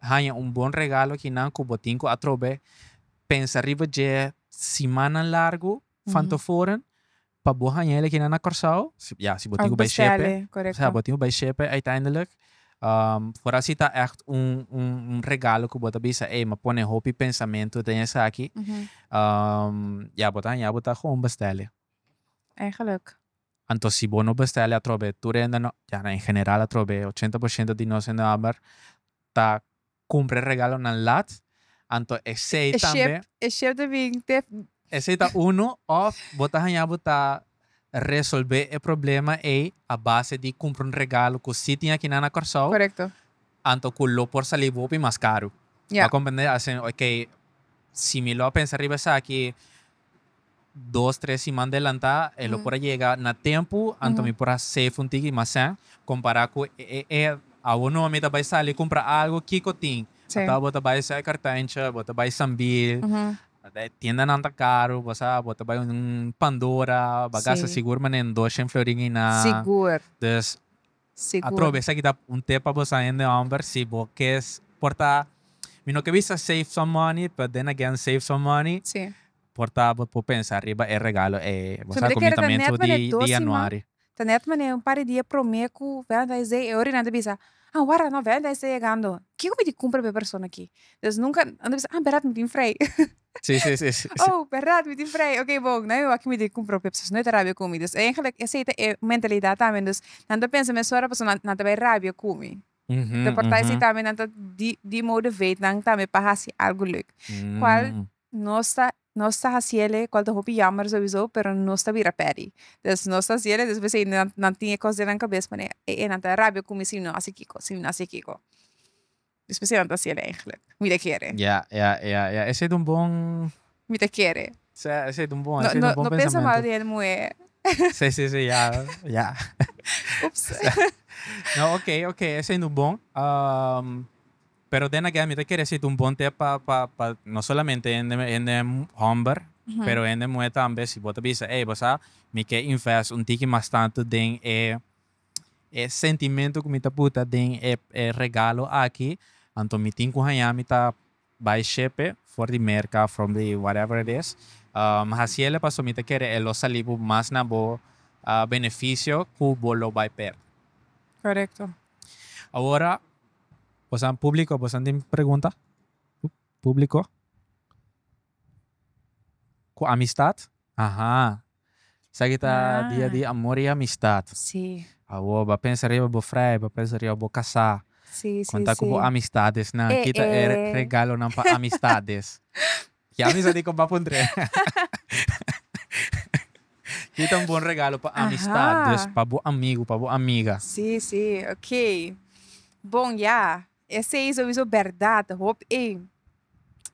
haña un bon regalo kinan ku bo tin ku atrobe pensa riba dje simannan largu van tevoren pa bo haña el akinan na Kòrsou. Ya, si bo tin ku bai shepe, ya, bo tin ku bai shepe uiteindelijk for asi ta ècht un un regalo ku bo ta bisa, ey, mi a pone hopi pensamentu den esaki, ya, bo ta haña bo ta gewoon bestèl'e. Eigenlijk. Anto si bo no bestèl'e atrobe tur hende no, ya na en general atrobe ochenta por shento di nos hende hòmber ta kumpra e regalonan lat, anto esei tambe, esei ta unu òf bo ta haña bo ta resolbé e problema ei a base di kumpra un regalo ku si tin akinan na Kòrsou, anto ku lo por sali bo hopi mas karu. Bo a komprendé? Asina, okey, si mi lo a pensa riba esaki, dos tres siman delantá e lo por a yega na tempu anto mi por a save un tiki mas sèn kompará ku e e awor no mi ta bai sali kumpra algu kiko tin ata bo ta bai Sui Kartancha bo ta bai Sambil e tiendanan ta karu bo sa bo ta bai un Pandora bo a gasta sigur manera dos shen florin einan dus Sigur. Atrobe esaki ta un tip pa boso hende homber si bo ke por ta mi no ke bisa save some money but then again save some money Si. por ta bo por pensa riba e regalo ei bo sa komintamento di di januari. Ta net manera un par di dia prome ku valentines day e ora nan ta bisa ah wara no valentines ta yegando kiko mi tin kumpra pa e persona aki dus nunka nan ta bisa ah berat mi tin frei. Sí, sí, sí. sí. Oh, verdad, mi tin vrij. Ok, bon, nou aki mi tin compro pepsi, dus nou ta rabia cu mi. Dus eigenlijk, ese ta e mentalidad tambe. Dus nan ta pensa mes ora, pasobra nan ta bay rabia cu mi. Mm -hmm, ta porta mm -hmm. tambe, nan ta di, di motivate nan tambe pa haci algo leuk. Mm. Cual no sta, no sta haciele, cual ta hopi jammer sowieso, pero no sta bira peri. Dus no sta haciele, dus besey nan, nan tin e cos den nan cabes, mane, e, e, nan ta rabia cu mi si mi no haci kico, si mi no haci kico. Despues si nan ta hasiel eigenlijk. Mi ta kere. Ya ya ya ya esei ta un bon. Mi ta kere. Sea esei ta un bon esei ta un bon pensamentu. No pensa mal di el muhé. Si si si ya ya. Ups. No ok ok esei nu bon pero then again mi ta kere esei ta un bon tep pa pa pa no solamente hende hende homber pero hende muhe tambe si bo ta bisa ey bo sa mi ke invest un tiki mas tantu den e E sentimentu ku mi ta puta den e e regalo aki, anto mi tin ku haña mi ta bai shepe for di Merka, from di whatever it is, mi hasi ele pasobra mi ta kere e lo sali bo mas na bo benefisio ku bo lo bai perde. Korekto. Awor, bosan publiko, bosan tin pregunta? Publiko? Ku amistat? Aha. Esaki ta dia di amor i amistad. Awor bo a pensa riba bo frai, bo a pensa riba bo casá. Conta cu bo amistadesnan. Kita e regalonan pa amistades. Ki amistad di compa Pondré? Kita un bon regalo pa amistad, pa bo amigo, pa bo amiga. Bon ya. E seis a wiso berdad hop ey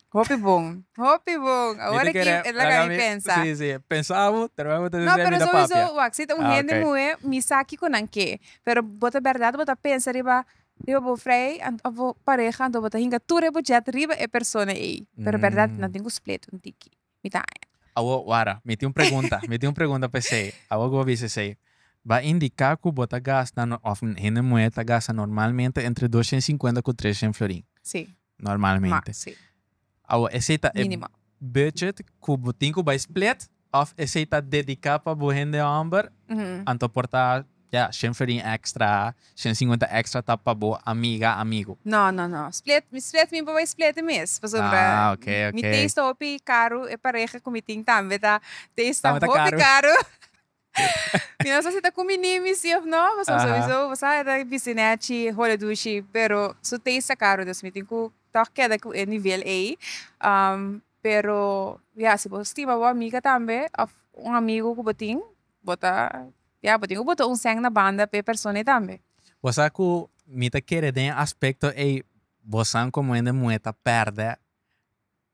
hopi bon hopi bon awor aki e laga mi pensa si si pensa awo terwijl awo ta sesi no pero so wiso wak si ta un hende muhe mi sa kiko nan ke pero bo ta berdad bo ta pensa riba riba bo vrij of bo pareha anto bo ta hinga tur e budget riba e persona ey pero berdad nan tin ku split un tiki. Mi ta. Awor, wara. Mi tin un pregunta. Mi tin un pregunta pa esei. Awor ku bo bisa esei, bo a indiká ku bo ta gasta, òf hende muhé ta gasta normalmente entre doshen sinkuenta ku treshen florin. Sí. Normalmente. Maks, sí. Awor, esei ta e. Mínimo. Budget ku bo tin ku bai split òf esei ta dediká pa bo hende hòmber anto por ta. Ya, shen ferin extra, shen cincuenta extra ta pa bo amiga, amigo. No, no, no. Split, mi split mi pa bay split'e mes. Pasobra Ah, ok, ok. mi taste ta hopi caro, e pareha cu mi tin tambe ta taste Tambe ta ta hopi caro. Mi no sa si ta cumbini mi si of no, pasobra Aha. sowieso bo sa e ta bisti nechi, hole dushi, pero su taste ta caro, dus mi tin cu toch keda cu e nivel ey. Am, pero ya, si bo stima bo amiga tambe of un amigo cu bo tin, bo ta. Ya, bo tin ku bota un sèn na banda p'e persona ei tambe. Bo sa ku mi ta kere den e aspekto ei, bo san komo hende muhé ta pèrdè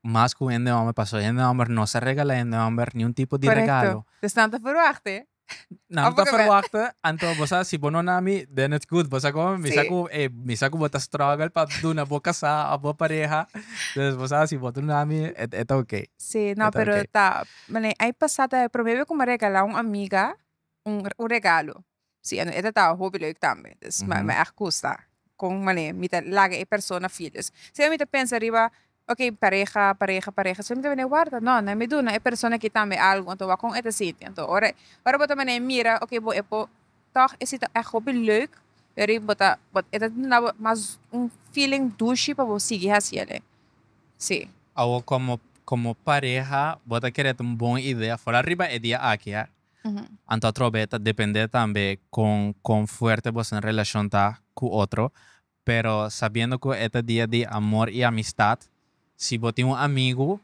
mas ku hende hòmber, pasobra hende hòmber no sa regalá hende hòmber niun tipo di regalo. Korekto. Dus nan ta ferwachta. Nan ta ferwachta, anto bo sa si bo no na mi, den it's good. Bo sa komo? Mi sa ku e, mi sa ku bo ta struggle pa duna bo kasá òf bo pareha, dus bo sa si bo ta duna mi, e ta oké. Sí, no pero ta Mane ai pasá ta e promé be ku mi a regalá un amiga un un regalo si e ta tava hopi leuk tambe dus mi mi èg gusta kon mane mi ta laga e persona feel dus siempre mi ta pensa riba ok pareha pareha pareha siempre mi ta wòrdu warta nò nan mi duna e persona aki tambe algu anto wak kon e ta sinti anto ora ora bo ta mane mira ok bo e po. Tog e si ta echt hopi leuk pero bo ta e ta duna bo mas un feeling dushi pa bo sigui hasi ele si. Awo como como pareha bo ta kere ta un bon idea for ariba e dia aki a anto atrobe ta depende tambe con con fuerte boso relacion ta cu otro pero sabiendo cu e ta dia di amor y amistad, si bo tin un amigo,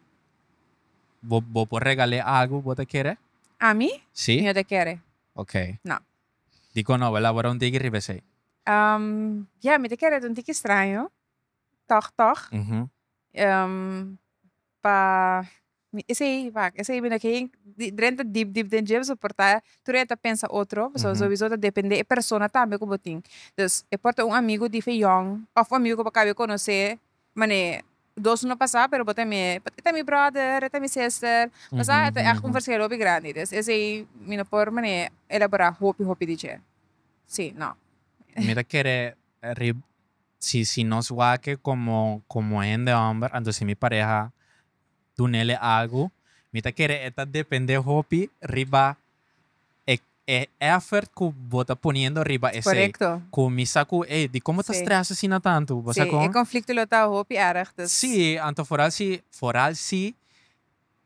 bo, bo por regal'é algo bo ta kere? Ami? Si? Mi no ta kere. Ok. No. Dikon no, wèl a wòrdu un tiki riba esei? Ehm, ja, mi ta kere ta un tiki straño, tòg, tòg. Mhm. Ehm, pa. Esei vak esei bini ken drenta dip dip den dje soporta tur e ta pensa otro pasobra sobiso ta depende e persona tambe ku bo tin dus e por ta un amigo di fe yòn of un amigo ku bo kabe konosé manera dos no pasa pero bo ta mié e ta mi bròder e ta mi sister bo sa e ta ègt un verskel hopi grandi dus esei mi no por manera elaborá hopi hopi di dje si no. Mi ta kere si si nos wak komo komo hende hòmber anto si mi pareha. dunele algu, mi ta kere e ta depende hopi riba e e effort ku bo ta poniendo riba esei. Korekto. Ku mi sa ku ey di komo ta stress asina tantu, bo sa kon? E konflikto lo ta hopi erg, dus. Sí, anto foral si foral si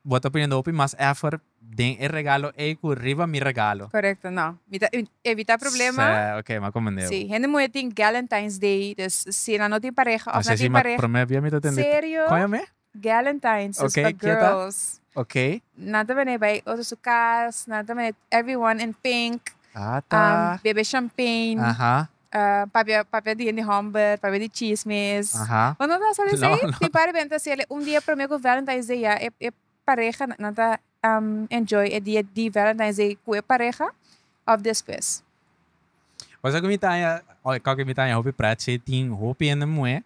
bo ta poniendo hopi mas effort den e regalo ey ku riba mi regalo. Korekto, no. Mi ta evitá problema. Sè, ok, m'a komende bo. Sí, hende muhe tin Galentine's Day, dus si nan no tin pareha òf nan tin pareha. Mas esi promé bia mi ta tende. Serio? Kon ya meh? Galentines is pa girls. Okay. Nan ta bene bay otro su cas, nan ta bene everyone in pink. Ata. Um, bebe champagne. Aha. Uh, papia, papia di gente homber, papia di chismes. Aha. Bueno, no sa dice, no, no. mi padre benta si ele un dia promio con Valentine's Day ya, e, e pareja nan ta um, enjoy e dia di Valentine's Day cu e pareja of despues. Cosa cu mi tanya, oh, cosa cu mi tanya hopi prat, tin hopi en muhe,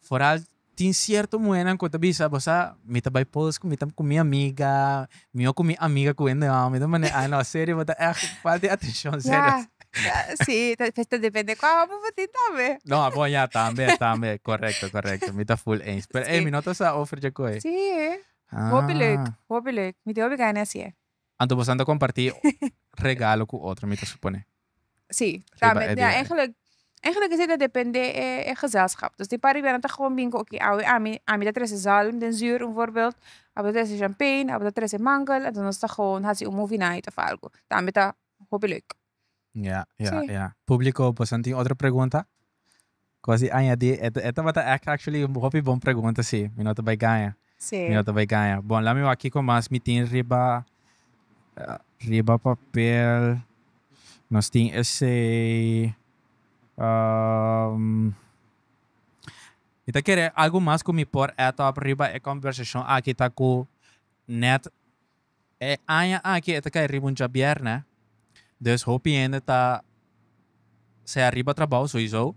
Foral tin cierto muhernan cu ta bisa bo sa mi ta bay pols cu mi ta cu mi amiga mi ocu mi amiga cu hende homo mi ta manera ay no serio bo ta echt falta di atencion serio. Ya si pues ta depende cua homo bo tin tambe. No bon ya tambe tambe correcto correcto mi ta full eens pero ey mi no ta sa over dje coe. Si hopi leuk hopi leuk mi tin hopi gana asie. Anto boso nan ta comparti regalo cu otro, mi ta supone. Sí, tambe ta eigenlijk, eigenlijk esei ta depende e gezelschap. Dus di pariba nan ta gewoon bin cu oké awe ami, ami ta trece zalm den zuur un voorbeeld, abe ta trece champagne, abe ta trece mango, entonces nos ta gewoon haci un movie night of algo. Tambe ta hopi leuk. Ya ya ya publico bosan tin otro pregunta? Cos di añadi e e tabata act actually hopi bon pregunta si mi no ta bay gaña mi no ta bay gaña bon lami wak kico mas mi tin riba riba papel nos tin esey mi ta kere algo mas cu mi por add up riba e conversacion aki ta cu net E aña aki e ta kai riba un djabièrnè, dus hopi hende ta sea riba trabou, soisou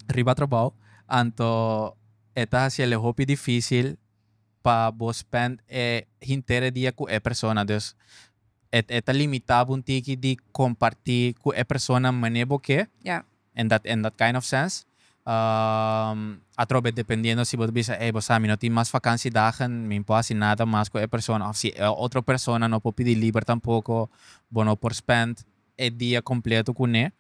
riba trabou, anto e ta hasiel e hopi difísil pa bo spend e henter e dia ku e persona. Dus e ta limita bo un tiki di kompartí ku e persona manera bo ke. en dat en dat kind of sense. Atrobe dependiendo si bo ta bisa ey bo sa mi no tin mas vakansi dagen, mi por hasi nada mas ku e persona of si e otro persona no por pidi liber tampoko bo no por spend e dia completo kuné.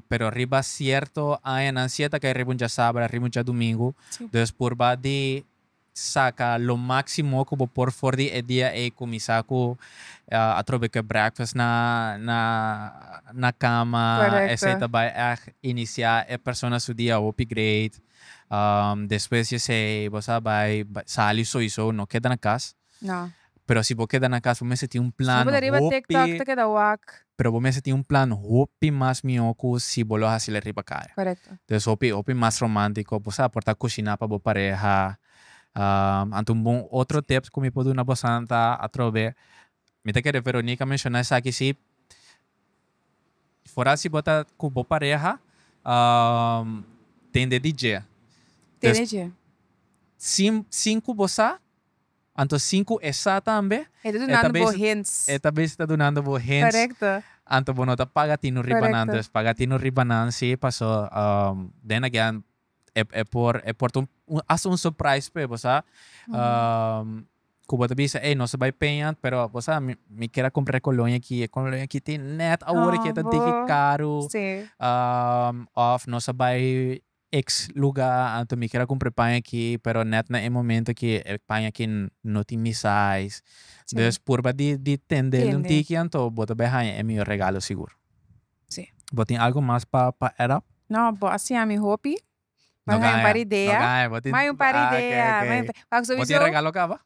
Pero riba cierto añanan si e ta kay riba un diasabra, riba un diadomingo, dus purba di Saca lo maximo cu bo por for di e dia ey cuminsa cu atrobe cu e breakfast na na cama, esey ta bay echt inicia e persona su dia hopi great, despues di esey bo sa bay sali soyso no keda na cas. pero si bo keda na cas bo mester tin un plan hopi. Si bo ta riba tiktok ta keda wak. Pero bo mester tin un plan hopi mas mihó cu si bo lo hacel riba caya. Corecto. Entonces hopi hopi mas romantico bo sa por ta cushina pa bo pareha. Anto un bon otro tip cu mi por duna bosan ta atrobe mi ta kere Veronica menciona esaki si fora si bo ta cu bo pareha tende di dje. Tende dje. Sin sin cu bo sa. Anto sinku e sa tambe. E ta dunando bo hints. E ta bes ta dunando bo hints. Korekto. Anto bo no ta paga tinu riba nan dus paga tinu riba nan si paso den agean e e por e por ta un hasta un surprise p'e bo sa ku bo ta bisa ey nos ta bai peña pero bo sa mi mi ker a kumpra e koloña aki e koloña aki tin nèt awor aki e ta diki karu òf nos a bai Ex luga anto mi keda cumpre paña aki pero net na e momento aki e paña aki no tin mi size dus purba di di tendel un tiki anto bo ta bay haña e mihor regalo sigur. Bo tin algo mas pa pa add up? No bo a siña mi hopi bo a haña un par idea. Bo tin regalo caba?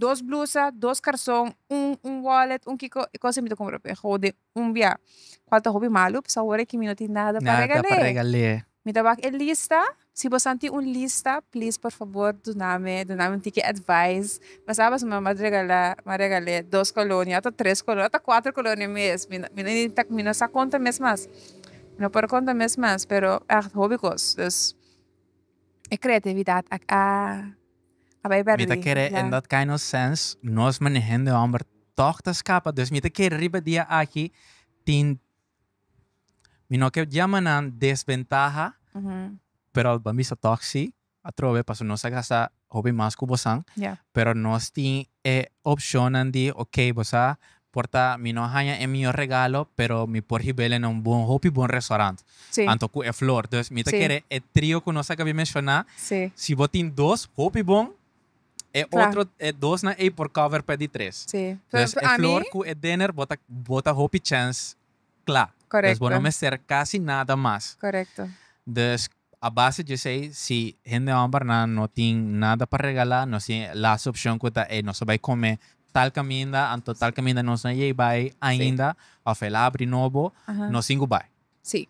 dos blusa, dos karson, un un wallet, un kiko e kos mi ta kumpra pa e hode un bia kual ta hopi malu pask awor mi no tin nada pa regal'e mi ta wak e lista si bo san tin un lista please por fabor dunami dunami un tiki advise mi sa pask mi mat regala mat regal'e dos kolonia ato tres kolonia ato kuater kolonia mes mi mi no inta mi no sa konta mes mas mi no por konta mes mas pero ah hopi kos dus e kreatividat a. Mi ta kere e not kind of sense nos manehen de homber tog ta scapa dus mi ta kere riba dia aki tin mi no ke jama nan desventaha pero pa mi sa tog si atrobe pasobra nos a gasta hopi mas ku bosan pero nos tin E opcionnan di ok bo sa por ta mi no a haña e mihor regalo pero mi por hibele na un bon hopi bon restaurant Sí. anto cu e flor dus mi ta Sí. kere e trio cu nos a gabi menciona Sí. si bo tin dos hopi bon e Cla. otro e dos nan ey por cover pe di tres Sí. Pe dus e ami flor cu e dinner bo ta bo ta hopi chance cla dus bo no Correcto. mester casi nada mas Correcto. dus. A base dje esei, si hende hòmbernan no tin nada pa regalá, nos tin e lasta opshon ku ta, ey, nos ta bai kome tal kaminda, anto tal kaminda nos no a yei bai ainda, òf el a abri nobo, nos tin ku bai. Sí.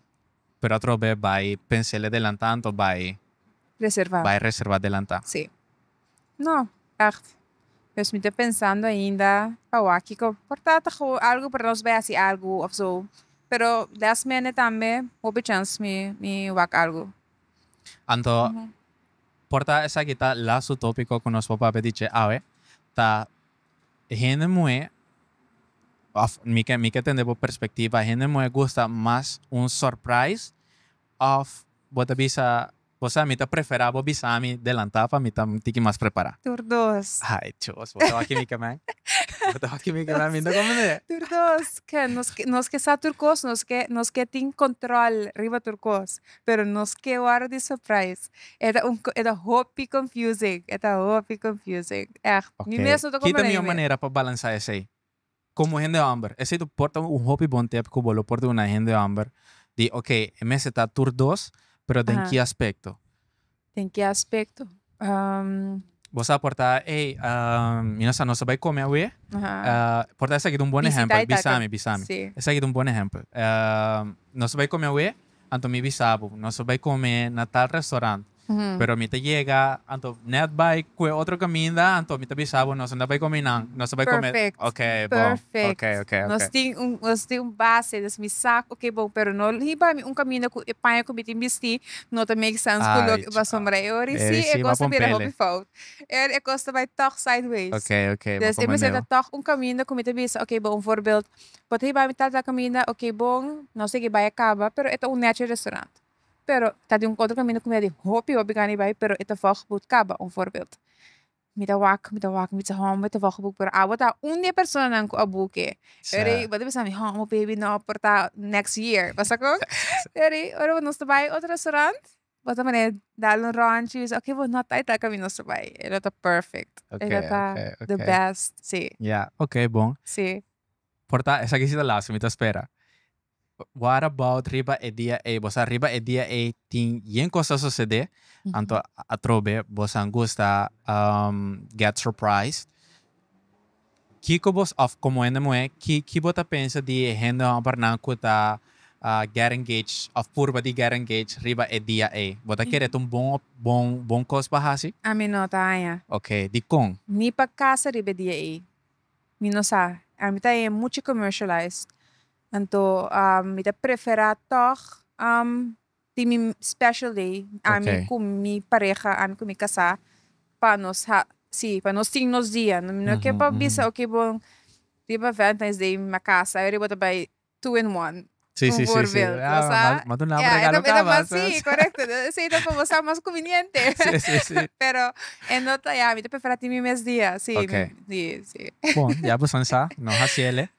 Pero atrobe bai pens'el adelantá anto bai. Reservá. Bai reservá adelantá. Sí. No ègt, pues mi ta pensando ainda pa wak kiko por trata kahoba algo para nos bai haci algo of so pero last minute tambe hopi chans mi mi wak algo. Anto por ta esaki ta lastu topiko ku nos por papia di dje awe ta e hende muhé of mi ke mi ke tende bo perspectiva e hende muhé gusta mas un surprise of bo ta bisa Bo sa mi ta prefera bo bisa mi delanta pa mi ta un tiki mas prepara. Tur dos. Ay chos bo ta wak kimica man bo ta wak kimica man mi no comprende. Tur dos ke nos ke nos ke sa tur cos nos ke nos ke tin control riba tur cos pero nos ke wordo di surprise e ta un e ta hopi confusing e ta hopi confusing echt mi mes no ta comprende. Oke kita mi un manera pa balansa esey Komo hende hòmber, esei ta por ta un hopi bon tèp ku bo lo por di una hende hòmber di ok, e mester ta tur dos, pero den ki aspekto? Den ki aspekto? Bo sa por ta, ey, mi no sa, nos ta bai kome awe? Por ta esaki ta un bon ehèmpel, bisami, bisami. Esaki ta un bon ehèmpel. Nos ta bai kome awe? Anto mi bisa bo, nos a bai come na tal restaurant. Pero mi ta yega, anto net bai cue otro caminda, anto mi ta bisa bo, nos a na bai come einan, nos a bai come. Perfect. Ok, bon. Perfect. Ok, ok, ok. Nos tin un, nos tin un base, dus mi sa, ok, bon, pero no hiba mi un caminda cu e paña cu mi tin bisti no ta make sense cu loke bo a sombra. E ora ei si, e cos ta bira hopi fout. E ora e cos ta bai tog sideways. Ok, ok, bo Dus e mester ta comende. tog un caminda cu mi ta bisa, ok, bon, un voorbeeld, Bo ta hiba mi tal tal caminda ok bon no segui bai a caba pero e ta un nechi restaurant pero ta di un otro caminda cu mi a di hopi hopi gana di bai pero e ta vog but caba un voorbeeld mi ta wak mi ta wak mi bisa home mi ta vog but pero awo ta un di e persona nan cu a buki yari bo ta bisa mi home baby no por ta next year bo saco yari ora nos ta bai otro restaurant. bo ta mane dal un ròntchi bisa oke bo no ta ai tal camino so bai e lo ta perfect e lo ta the best si ya ok bon si por ta esaki si ta laster mi ta spera what about riba e dia ei bo sa riba e dia ei tin yen cos ta sucede anto atrobe bosa gusta get surprise. Kiko bos of komo hende muhé ki ki bo ta pensa di e hende hòmber nan ku ta get engaged of purba di get engaged riba e dia ei? Bo ta kere ta un bon bon bon kos pa hasi? Ami no ta haña. Ok, dikon? Ni pa kasa riba e dia ei. Mi no sa. Ami ta haña mucha commercialize. Anto mi ta preferá tòg Tin mi special day ami cu mi pareha ami cu mi casa pa nos ha si pa nos tin nos dia no mi no ke pa bisa oke bo riba valentines day mi a casa awe riba ta bay two in one un voorbeeld lo sa ya e ta mas si corecto esey ta por bo sa mas conveniente pero e no ta ya mi ta prefera tin mi mes dia si si. Bon ya bosan sa nos ha ciele.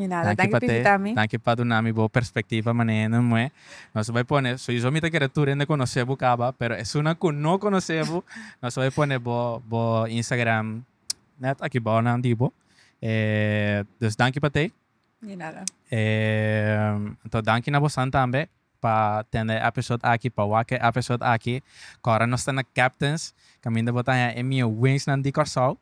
Danki pa te, danki pa dunami bo perspectiva manera e nos mue. Nos ta bai pone, souizo mi ta kere tur hende conoce bo caba, pero esunnan cu no conoce bo, nos ta bai pone bo bo Instagram net aki bao nan di bo. Dus danki pa te. Di nada. Anto danki na bosan tambe pa tende e episode aki, pa wak e episode aki. Cu ora nos ta na Captains, caminda bo ta haña e mieuwings nan di Corsou.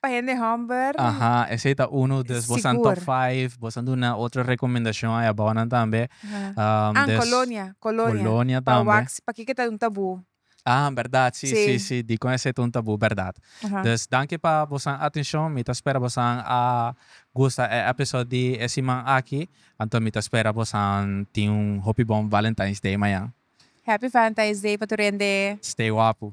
Pa hende hòmber. Aha, esei ta unu, dus boso nan top five, boso nan duna otro rekomendashon ai abounan tambe. An Kolonia, Kolonia, pa wax, pakiko e ta un tabú? Ah, bèrdat, si, si, si, dikon esei ta un tabú, bèrdat. Dus danki pa boso nan atenshon, mi ta spera boso nan a gusta e episode di e siman aki, anto mi ta spera boso nan tin un hopi bon Valentine's Day mañan. Happy Valentine's Day pa tur hende. Stay wapu.